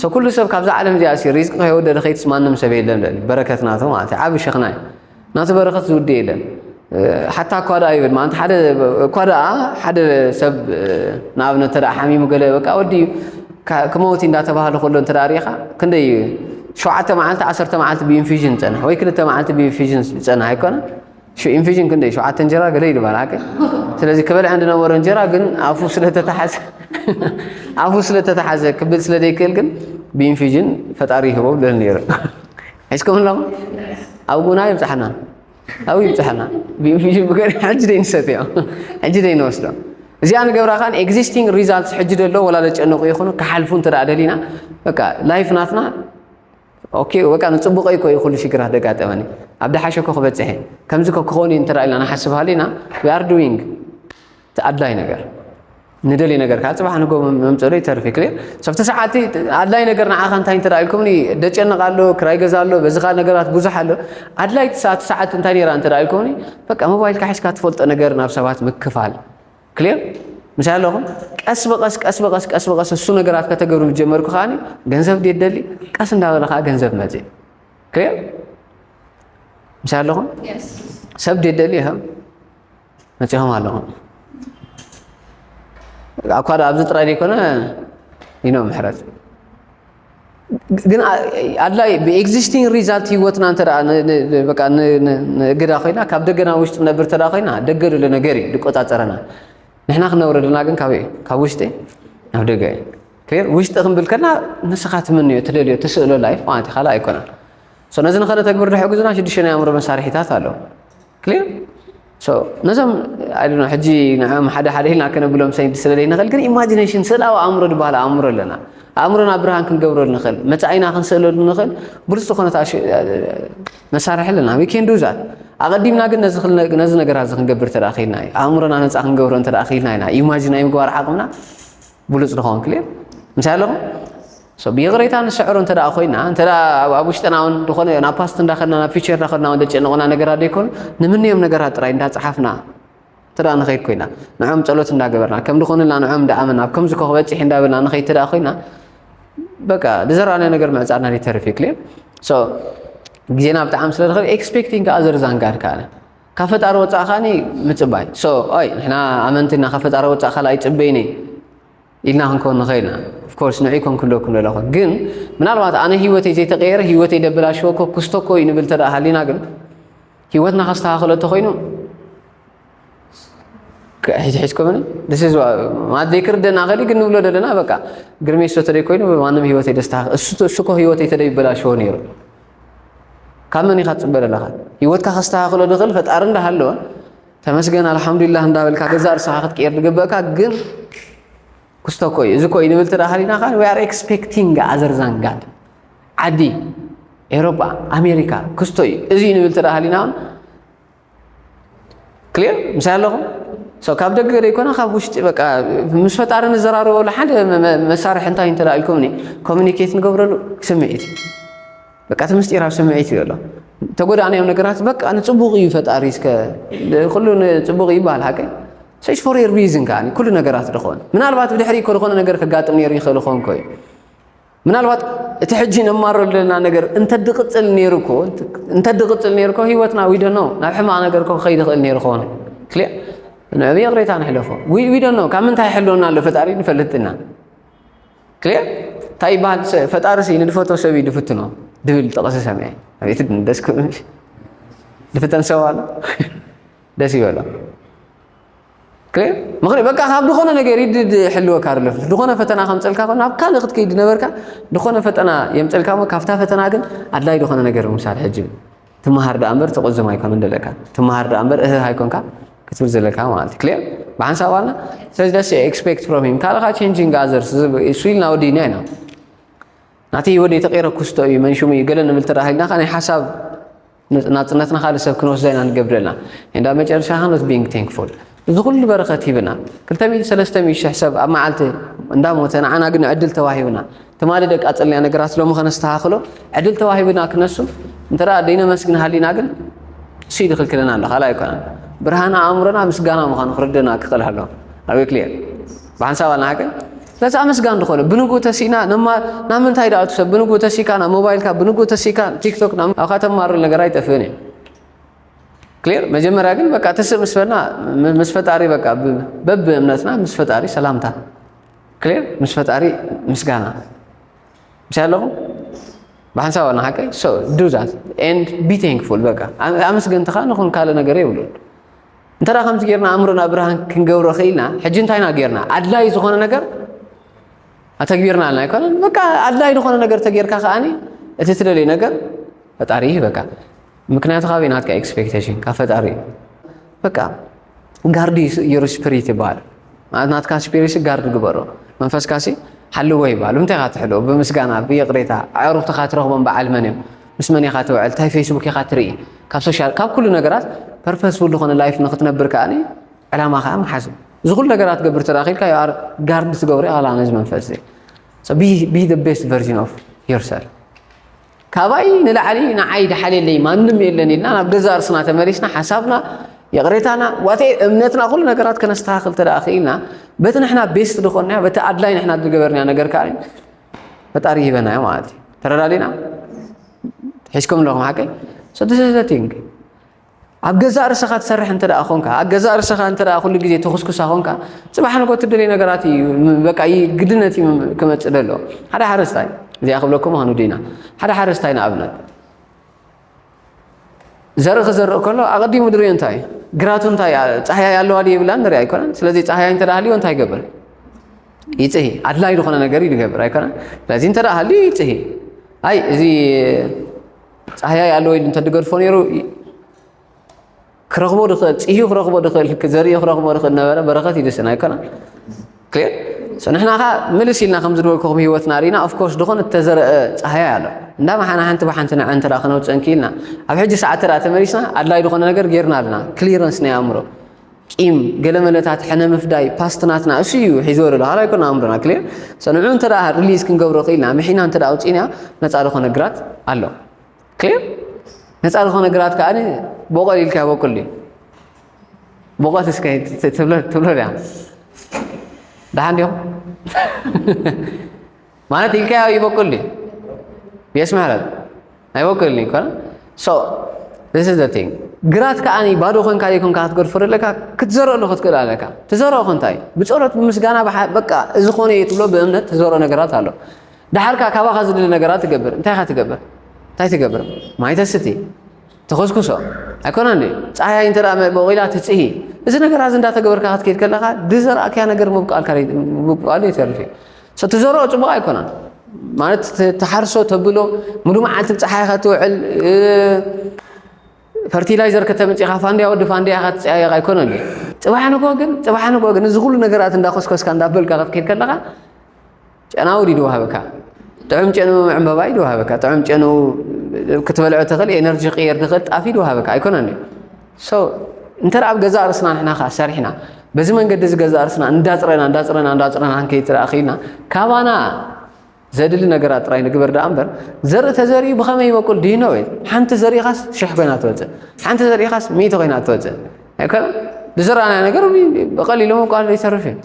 ሰ ኩሉ ሰብ ካብዛ ዓለም እዚኣ ሲ ሪዝቂ ከይወደደ ከይትስ ማንም ሰብ የለን ልዕሊ በረከት ናቱ ማለት እዩ ዓብ ሸኽና እዩ ናቱ በረከት ዝውድ የለን ሓታ እኳ ደኣ ይብል ማለት ሓደ እኳ ደኣ ሓደ ሰብ ንኣብነት ተደኣ ሓሚሙ ገለ በቃ ወዲ እዩ ክመውቲ እንዳተባህለ ከሎ እንተ ሪኢኻ ክንደይ ሸውዓተ መዓልቲ ዓሰርተ መዓልቲ ብኢንፊዥን ይጸንሕ ወይ ክልተ መዓልቲ ብኢንፊዥን ይጸንሕ ኣይኮነን ሹ ኢንፊዥን ክንደይ ሸውዓተ እንጀራ ገለ ኢሉ ባል ሓቂ ስለዚ ክበልዐን ዝነበሮ እንጀራ ግን ኣፉ ስለተታሓዘ ኣፉ ስለተታሓዘ ክብል ስለ ዘይክእል ግን ብኢንፊዥን ፈጣሪ ይህቦ ብለል ነይሩ ሒዝኩም ሎም ኣብ ጉና ይብፅሓና ኣብኡ ይብፅሓና ብኢንፊዥን ብገር ሕጂ ደይንሰትዮ ሕጂ ደይንወስዶ እዚኣ ንገብራ ካን ኤግዚስቲንግ ሪዛልትስ ሕጂ ደሎ ወላ ዘጨነቁ ይኹኑ ክሓልፉ እንተ ደሊና በቃ ላይፍ ናትና ኦኬ በቃ ንጽቡቀይ እኮ እዩ ኩሉ ሽግራት ደጋጠመኒ ኣብ ደሓሸ እኮ ክበጽሕ እየ ከምዚ እኮ ክኸውን እዩ እንተ ኢልና ንሓስብ ሃሊና ዊ ኣር ዱዊንግ እቲ ኣድላይ ነገር ንደልይ ነገር ከዓ ፅባሕ ንጎ መምፅኡ ዶ ይተርፍ ክሊር ሰብቲ ሰዓቲ ኣድላይ ነገር ንዓኻ እንታይ እንተ ኢልኩምኒ ደጨንቕ ኣሎ ክራይ ገዛ ኣሎ በዚ ካል ነገራት ብዙሕ ኣሎ ኣድላይ ሰዓት እንታይ ነራ እንተ ኢልኩምኒ በቃ ሞባይልካ ሒዝካ ትፈልጦ ነገር ናብ ሰባት ምክፋል ክሊር ምሳይ ኣለኹም ቀስ ብቀስ ቀስ ብቀስ ቀስ ብቀስ እሱ ነገራት ከተገብሩ ጀመርኩ ከዓኒ ገንዘብ ድየ ደሊ ቀስ እንዳበለ ከዓ ገንዘብ መፅ ክሊር ምሳይ ኣለኹም ሰብ ድየ ደሊ ይኸም መፂኹም ኣለኹም ኣኳ ኣብዚ ጥራይ ዘይኮነ ይኖ ምሕረት ግን ኣድላይ ብኤግዚስቲንግ ሪዛልት ህይወትና እንተ በቃ ንእግዳ ኮይና ካብ ደገና ውሽጢ ነብር እንተ ኮይና ደገ ዘሎ ነገር እዩ ዝቆፃፀረና ንሕና ክነብረ ደና ግን ካብ እዩ ካብ ውሽጢ ናብ ደገ እዩ ክር ውሽጢ ክንብል ከና ንስኻ ትምንዮ ትደልዮ ትስእሎ ላይፍ ማለት እዩ ካልእ ኣይኮነን ነዚ ንኸነተግብር ዝሕግዙና ሽዱሽተ ናይ ኣእምሮ መሳርሒታት ኣለዉ ክሊር ሶ ነዞም ኣይዶነ ሕጂ ንዕኦም ሓደ ሓደ ኢልና ከነብሎም ሰይድ ስለ ዘይንኽእል ግን ኢማጂኔሽን ስእላዊ ኣእምሮ ዝበሃል ኣእምሮ ኣለና ኣእምሮና ብርሃን ክንገብረሉ ንኽእል መጻኢና ክንስእለሉ ንኽእል ብሉጽ ዝኾነ መሳርሒ ኣለና ዊ ኬን ዱ ዛት ኣቐዲምና ግን ነዚ ነገራት እዚ ክንገብር እንተ ክኢልና እዩ ኣእምሮና ነፃ ክንገብሮ እንተ ክኢልና ኢና ኢማጂን ናይ ምግባር ዓቕምና ብሉፅ ንኸውን ክልል ምሳይ ኣለኹም So ብይቕሬታ ንስዕሮ እንተ ኮይና እንተ ኣብ ውሽጥና ውን ዝኾነ ናብ ፓስት እንዳኸድና ናብ ፊቸር እንዳኸድና ውን ዘጨንቑና ነገራት ዘይኮኑ ንምንዮም ነገራት ጥራይ እንዳፀሓፍና እንተ ንኸይድ ኮይና ንዕኦም ጸሎት እንዳገበርና ከም ድኾኑልና ንዕኦም እንዳኣመና ኣብ ከምዚ ክበፅሕ እንዳበልና ንኸይድ እንተ ኮይና በቃ ዝዘራእናዮ ነገር ምዕፃድና ዘይተርፍ እዩ ክልል ሶ ግዜና ብጣዕሚ ስለ ዝኸብ ኤክስፔክቲንግ ከዓ ዘርዛን ጋር ከኣለ ካብ ፈጣሪ ወፃእ ከዓኒ ምፅባይ ሶ ኣይ ንሕና ኣመንቲ እና ካብ ፈጣሪ ወፃእ ካልኣ ይፅበይኒ ኢልና ክንኮን ንኸእል ኢና ኦፍኮርስ ንዕይ ኮን ክለኩ ዘለኹ ግን ምናልባት ኣነ ህይወተይ ዘይተቀየረ ህይወተይ ደበላሽዎ እኮ ክስቶ እኮ እዩ ንብል ተደኣ ሃሊና ግን ህይወትና ከስተኻኽሎ እንተኮይኑ ሒዝኮምን ማለት ዘይክርደና ከዲ ግን ንብሎ ዘለና በቃ ግርሜ ስቶ ተደይ ኮይኑ ማንም ህይወተይ ደስተኻኽ እሱ እኮ ህይወተይ ተደይ ይበላሽዎ ነይሩ ካብ መን ኢኻ ትፅበ ዘለኻ ህይወትካ ከስተኻኽሎ ዝኽእል ፈጣሪ እንዳሃለወ ተመስገን ኣልሓምዱሊላህ እንዳበልካ ገዛእ ርእስኻ ክትቅየር ዝግበእካ ግን ክስቶ እኮ እዩ እዚ እኮ እዩ ንብል ተዳሃሊና ከዓ ዊ ኣር ኤክስፔክቲንግ ኣዘር ዛን ጋድ ዓዲ ኤሮጳ ኣሜሪካ ክስቶ እዩ እዚ እዩ ንብል ተዳሃሊና እውን ክሊር ምሳይ ኣለኹም ሰው ካብ ደገ ዘይኮነ ካብ ውሽጢ በቃ ምስ ፈጣሪ ንዘራረበሉ ሓደ መሳርሒ እንታይ እንተዳ ኢልኩምኒ ኮሚኒኬት ንገብረሉ ስምዒት እዩ በቃ እቲ ምስጢር ኣብ ስምዒት እዩ ኣሎ ተጎዳእናዮም ነገራት በቃ ንፅቡቅ እዩ ፈጣሪ እስከ ኩሉ ንፅቡቅ እዩ ይበሃል ሓቂ ሰይስ ፎር የር ሪዝን ከዓ ኩሉ ነገራት ድኾን ምናልባት ብድሕሪ እኮ ዝኾነ ነገር ከጋጥም ነይሩ ይኽእል ኾንኮ እዩ ምናልባት እቲ ሕጂ ነማረሉ ዘለና ነገር እንተድቕፅል ነይሩ እኮ እንተድቕፅል ነይሩ እኮ ሂወትና ዊዶ ነው ናብ ሕማቕ ነገር እኮ ክኸይድ ይኽእል ነይሩ ኾነ ክልያ ንዕብ ይቕሬታ ንሕለፎ ዊዶ ነው ካብ ምንታይ ይሕልወና ኣሎ ፈጣሪ ንፈልጥና ክሊር እንታይ ይበሃል ፈጣሪ ሲ ንድፈቶ ሰብ እዩ ድፍትኖ ድብል ጥቕሲ ሰሚዐ ኣቤት ደስ ክብል ድፍተን ሰብ ኣሎ ደስ ይበሎ ክሊር ምክንያት በቃ ካብ ድኾነ ነገር ይድ ሕልወካ ኣሎ ድኾነ ፈተና ከምፀልካ ኮ ናብ ካልእ ክትከይድ ነበርካ ድኾነ ፈተና የምፀልካ ሞ ካብታ ፈተና ግን ኣድላይ ድኾነ ነገር ምሳል ሕጂ ትመሃር ደኣ እምበር ትቕዝም ኣይኮነን ዘለካ ትመሃር ደኣ እምበር እህህ ኣይኮንካ ክትብል ዘለካ ማለት እዩ ክሊር ብሓንሳብ ዋና ስለዚ ደስ ኤክስፔክት ፍሮም ሂም ካልኻ ቼንጂንግ ኣዘርስ እሱ ኢልና ወዲና ኢና ናቲ ወደ ተቂረ ኩስቶ እዩ መንሹም እዩ ገለ ንብል ተራሂልና ከ ናይ ሓሳብ ናፅነትና ካልእ ሰብ ክንወስዳ ኢና ንገብረልና እንዳ መጨረሻ ከኖት ቢንግ ቴንክፉል እዚ ኩሉ በረኸት ሂብና ክልተ ሚእቲ ሰለስተ ሚእቲ ሽሕ ሰብ ኣብ መዓልቲ እንዳሞተ ንዓና ግን ዕድል ተዋሂብና ትማሊ ደቂ ኣጸልና ነገራት ሎሚ ከነስተኻኽሎ ዕድል ተዋሂብና ክነሱ እንተ ደይነመስግን ሃሊና ግን እሱ ይድክልክለና ኣሎ ካልኣ ኣይኮነን ብርሃን ኣእምሮና ምስጋና ምዃኑ ክርድና ክኽእል ኣሎ ኣበይ ክልየ ብሓንሳብ ኣልና ሃገር ስለዚ ኣመስጋን ዝኾነ ብንግኡ ተሲእና ነማ ናብ ምንታይ ደኣ ትሰብ ብንግኡ ተሲእካ ናብ ሞባይልካ ብንግኡ ተሲእካ ቲክቶክ ኣብካ ተማሩ ነገር ኣይጠፍእን እዩ ክሊር መጀመርያ ግን በቃ ተስእ ምስ በልና ምስ ፈጣሪ በቃ በብ እምነትና ምስ ፈጣሪ ሰላምታ ክሊር ምስ ፈጣሪ ምስጋና ምስ ኣለኹም ብሓንሳብ ኣና ሓቀ ሶ ዱ ዛት ኤንድ ቢ ቴንክፉል በቃ ኣመስገንትኻ ንኹን ካልእ ነገር የብሉን እንተ ከምዚ ጌርና ኣእምሮና ብርሃን ክንገብሮ ክኢልና ሕጂ እንታይና ጌርና ኣድላይ ዝኾነ ነገር ኣተግቢርና ኣልና ኣይኮነን በቃ ኣድላይ ዝኾነ ነገር ተጌርካ ከዓኒ እቲ ትደልዩ ነገር ፈጣሪ ይህበካ ምክንያቱ ካበይ ናትካ ኤክስፔክቴሽን ካብ ፈጣሪ እዩ በቃ ጋርዲ ዩር ስፒሪት ይበሃል ማለት ናትካ ስፒሪት ጋርዲ ግበሮ መንፈስካ ሲ ሓልዎ ይበሃል ብምንታይ ኢኻ ትሕልዎ ብምስጋና ብይቕሬታ ኣዕሩኽትኻ ትረኽቦም በዓል መን እዮም ምስ መን ኢኻ ትውዕል እንታይ ፌስቡክ ኢኻ ትርኢ ካብ ሶሻል ካብ ኩሉ ነገራት ፐርፐስፉል ዝኾነ ላይፍ ንክትነብር ከዓ ዕላማ ከዓ ምሓዝ እዚ ኩሉ ነገራት ገብር ተራኺልካ ዩኣር ጋርድ ትገብሪ ኣላ ነዚ መንፈስ እዚ ቢ ቤስት ቨርዥን ኦፍ ዮርሰልፍ ካባይ ንላዕሊ ንዓይ ድሓልየለይ ማንም የለን ኢልና ናብ ገዛ እርስና ተመሊስና ሓሳብና ይቕሬታና ዋቴ እምነትና ኩሉ ነገራት ከነስተኻኽል ተደኣ ክኢልና በቲ ንሕና ቤስት ድኾንያ በቲ ኣድላይ ንሕና ዝገበርንያ ነገር ከዓ ፈጣሪ ይህበናዮ ማለት እዩ ተረዳዲና ሒዝኩም ኣለኹም ሓቀይ ሰደሰሰቲንግ ኣብ ገዛእ ርእሰኻ ትሰርሕ እንተ ደኣ ኾንካ ኣብ ገዛእ ርእሰኻ እንተ ደኣ ኩሉ ግዜ ተኹስኩሳ ኾንካ ጽባሕ ንጎ ትደልዮ ነገራት እዩ በቃ ግድነት እዩ ክመጽእ ደሎ ሓደ ሓረስታይ እዚኣ ክብለኩም ምዃኑ ዲና ሓደ ሓረስታይ ንኣብነት ዘርኢ ክዘርእ ከሎ ኣቐዲሙ ድሪኦ እንታይ እዩ ግራቱ እንታይ ጻህያይ ኣለዋ ድ የብላን ንሪኣ ኣይኮነን ስለዚ ጻህያይ እንተ ሃልዮ እንታይ ይገብር ይጽሂ ኣድላይ ዝኾነ ነገር እዩ ዝገብር ኣይኮነን ስለዚ እንተ ሃልዩ ይጽሂ ኣይ እዚ ጻህያይ ኣለወይኒ እንተድገድፎ ነይሩ ክረኽቦ ድኽእል ጽህዩ ክረኽቦ ድኽእል ዘርእዮ ክረኽቦ ድኽእል ነበረ በረኸት ይድስን ኣይኮነ ንሕና ኸ ምልስ ኢልና ከም ዝነበልኩኹም ህይወትና ርኢና ኦፍኮርስ ድኾን እተዘረአ ጻህያ ኣሎ እንዳ መሓና ሓንቲ ብሓንቲ ንዐ እንተ ክነውፅእ እንክኢልና ኣብ ሕጂ ሰዓት ተደኣ ተመሊስና ኣድላይ ዝኾነ ነገር ጌርና ኣለና ክሊረንስ ናይ ኣእምሮ ቂም ገለመለታት ሕነ ምፍዳይ ፓስት ናትና እሱ እዩ ሒዞ ዘሎ ሃላይ ኮና ኣእምሮና ክሊር ሰንዑ እንተ ሪሊዝ ክንገብሮ ክኢልና ምሒና እንተ ኣውፂእና ነፃ ዝኾነ ግራት ኣሎ ክሊር ነፃ ዝኾነ ግራት ከዓ ቦቐል ኢልካ ይበቁል እዩ ቦቐል እስከ ትብሎ ድያ ደሓን ዲኹም ማለት ኢልካዮ ይበቁል ድዩ የስ ምሕረት ኣይበቁልን ይኮነ ሶ ዚስ ኢዝ ዘ ቲንግ ግራት ከዓኒ ባዶ ኮንካ ዘይኮንካ ክትገድፎ ዘለካ ክትዘርኦ ዶ ክትክእል ኣለካ ትዘርኦ ኮንታይ ብፀሎት ብምስጋና በቃ እዚ ኮነ እዩ ትብሎ ብእምነት ትዘርኦ ነገራት ኣሎ ድሓርካ ካባኻ ዝድሊ ነገራት ትገብር እንታይ ኢኻ ትገብር እንታይ ትገብር ማይ ተስቲ ትኹስኩሶ ኣይኮነን ድዩ? ጻህያይ እንተ ቦቒላ ትጽሂ። እዚ ነገራት እዚ እንዳተገበርካ ክትከይድ ከለኻ ድዘራእካያ ነገር ምብቃልካ ምብቃሉ ይተርፍ እዩ። ትዘርኦ ጽቡቕ ኣይኮነን ማለት ትሓርሶ ተብሎ ሙሉ መዓልቲ ብጸሓይ ከትውዕል ፈርቲላይዘር ከተምጽኻ ፋንድያ ወዲ ፋንድያ ከትጸያየቕ ኣይኮነን እዩ። ጽባሕ ንጎ ግን ጽባሕ ንጎ ግን እዚ ኩሉ ነገራት እንዳኮስኮስካ እንዳበልካ ክትከይድ ከለኻ ጨናዊ ድዩ ድወሃበካ ጥዑም ጨኑ ዕምበባ እዩ ድወሃበካ ጥዑም ጨኑ ክትበልዖ ትኽእል ኤነርጂ ክቅየር ድኽእል ጣፍ እዩ ድወሃበካ ኣይኮነን ሶ እንተ ኣብ ገዛ ርእስና ንሕና ከዓ ሰሪሕና በዚ መንገዲ እዚ ገዛ ርእስና እንዳፅረና እንዳፅረና እንዳፅረና ንከይትረኣ ክኢልና ካባና ዘድሊ ነገራት ጥራይ ንግበር ደኣ እምበር ዘርኢ ተዘሪኡ ብኸመይ ይበቁል ድሂኖ ወይ ሓንቲ ዘሪእኻስ ሽሕ ኮይና ትወፅእ ሓንቲ ዘሪእኻስ ሚእቲ ኮይና ትወፅእ ኣይኮነ ብዝረኣና ነገር ብቐሊሉ ምብቋል ዘይተርፍ እዩ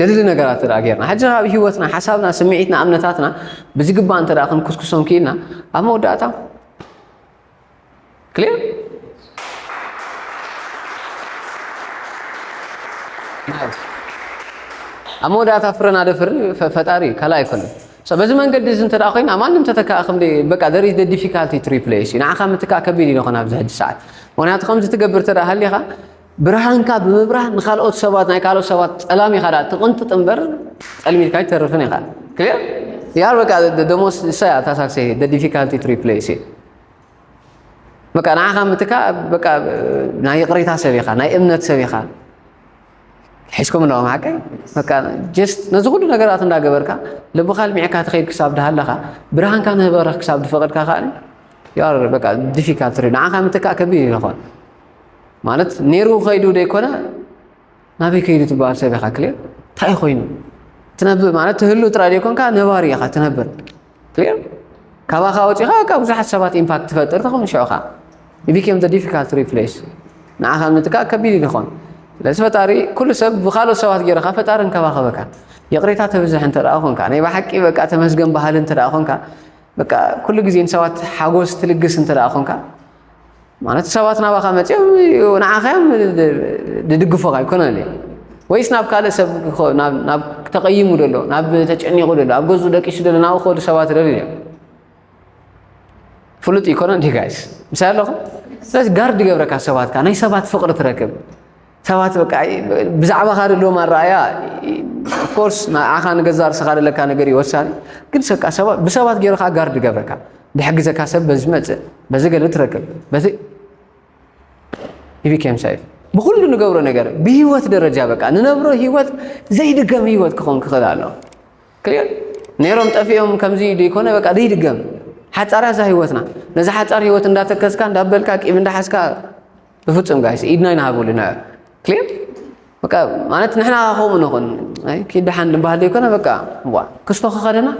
ደልሊ ነገራት እንተደኣ ጌርና ሕጂ ኣብ ህይወትና ሓሳብና ስምዒትና እምነታትና ብዝግባእ እንተደኣ ክንኩስኩሶም ክኢልና ኣብ መወዳእታ ክልር ኣብ መወዳእታ ፍረና ደፍር ፈጣሪ እዩ ካልእ ኣይኮነን በዚ መንገዲ እዚ እንተ ኮይና ማንም ተተካእ ከም በቃ ደር ኢዝ ዲፊካልቲ ቱ ሪፕሌስ እዩ ንዓኻ ምትካእ ከቢድ እዩ ንኾን ኣብዚ ሕጂ ሰዓት ምክንያቱ ከምዚ ትገብር እንተ ሃሊኻ ብርሃንካ ብምብራህ ንካልኦት ሰባት ናይ ካልኦት ሰባት ጸላም ኢኻ ደኣ ትቕንጥጥ እምበር ጸልሚትካ ኣይትተርፍን ኢኻ ክሊር ያር በቃ ደሞስ እሳያ እታ ሳክሴ ደ ዲፊካልቲ ቱ ሪፕሌስ እዩ በቃ ንዓኻ ምትካ በቃ ናይ ይቕሬታ ሰብ ኢኻ ናይ እምነት ሰብ ኢኻ ሒዝኩም ኣለኹም ሓቀይ በቃ ጀስት ነዚ ኩሉ ነገራት እንዳገበርካ ልብኻ ልሚዕካ ትኸይድ ክሳብ ድሃለኻ ብርሃንካ ንህበረኽ ክሳብ ድፈቐድካ ከኣ ዩ በቃ ዲፊካልት ንዓኻ ምትካእ ከቢድ ይኾን ማለት ነይሩ ከይዱ ዘይኮነ ናበይ ከይዱ ትበሃል ሰብ ኢኻ ክልር እንታይ ኮይኑ ትነብር ማለት ትህሉ ጥራይ ዘይኮንካ ነባሪ ኢኻ ትነብር ክልር ካባኻ ወፂኻ ካብ ብዙሓት ሰባት ኢምፓክት ትፈጥር ትኸውን ሽዑ ከዓ ቢኬም ዘ ዲፊካልት ሪፕሌስ ንዓኻ ምትካእ ከቢድ ይኾን ስለዚ ፈጣሪ ኩሉ ሰብ ብካልኦት ሰባት ገይርካ ፈጣሪ እንከባኸበካ ይቕሬታ ተብዝሕ እንተ ደኣ ኮንካ ናይ ብሓቂ በቃ ተመስገን ባህሊ እንተ ደኣ ኮንካ በቃ ኩሉ ግዜ ንሰባት ሓጎስ ትልግስ እንተ ደኣ ኮንካ ማለት ሰባት ናባኻ መፅኦም ንዓኻ እዮም ድድግፎኻ ይኮነ ለ ወይስ ናብ ካልእ ሰብ ናብ ተቐይሙ ደሎ ናብ ተጨኒቑ ደሎ ኣብ ገዝኡ ደቂሱ ደሎ ናብ ኸዱ ሰባት ደሉ እዮም ፍሉጥ ይኮነ እንዲ ጋይስ ምሳይ ኣለኹም ስለዚ ጋርድ ገብረካ ሰባትካ ናይ ሰባት ፍቕሪ ትረክብ ሰባት በቃ ብዛዕባኻ ዘለዎም ኣረኣእያ ኮርስ ንዓኻ ንገዛ ርስኻ ዘለካ ነገር እዩ ወሳኒ ግን ሰቃ ብሰባት ገይሩ ከዓ ጋርድ ገብረካ ድሕግዘካ ሰብ በዚ መፅእ በዚ ገለ ትረክብ በዚ ይቢኬም ሳይፍ ብኩሉ ንገብሮ ነገር ብሂወት ደረጃ በቃ ንነብሮ ሂወት ዘይድገም ሂወት ክኸውን ክኽእል ኣሎ ክልዮን ነይሮም ጠፊኦም ከምዚ ዘይኮነ በቃ ዘይድገም ሓፃርያ እዛ ሂወትና ነዚ ሓፃር ሂወት እንዳተከዝካ እንዳበልካ ቂም እንዳሓዝካ ብፍጹም ጋይስ ኢድና ይንሃበሉ ንዕ ክሊር በቃ ማለት ንሕና ከምኡ ንኹን ኪድ ደሓን ንበሃል ዘይኮነ በቃ ዋ ክስቶ ከኸደና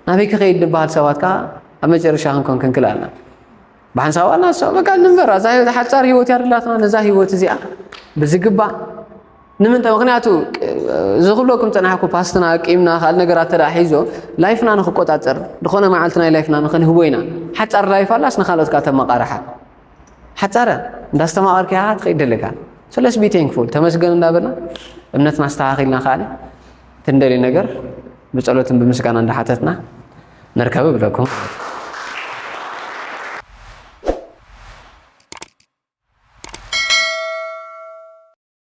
ናበይ ክኸይድ ንበሃል ሰባት ከዓ ኣብ መጨረሻ ክንኮን ክንክል ኣለና ብሓንሳብ ኣልና ሰው በቃ ንንበር እዛ ህይወት ሓፃር ህይወት ያደላትና ነዛ ህይወት እዚኣ ብዝግባእ ንምንታይ ምክንያቱ እዚ ክብለኩም ፀናሕኩ ፓስትና ኣቂምና ካልእ ነገራት ተዳ ሒዞ ላይፍና ንክቆፃፀር ዝኾነ መዓልቲ ናይ ላይፍና ንክንህቦ ኢና ሓፃር ላይፍ ኣላስ ንካልኦት ከዓ ተመቃርሓ ሓጻረ እንዳስተማቐርካ ኢኻ ትኸይድ ደለካ so let's be thankful ተመስገን እንዳበልና እምነትና ኣስተኻኺልና ከኣ እቲ እንደልዮ ነገር ብጸሎትን ብምስጋና እንዳሓተትና ንርከብ እብለኩም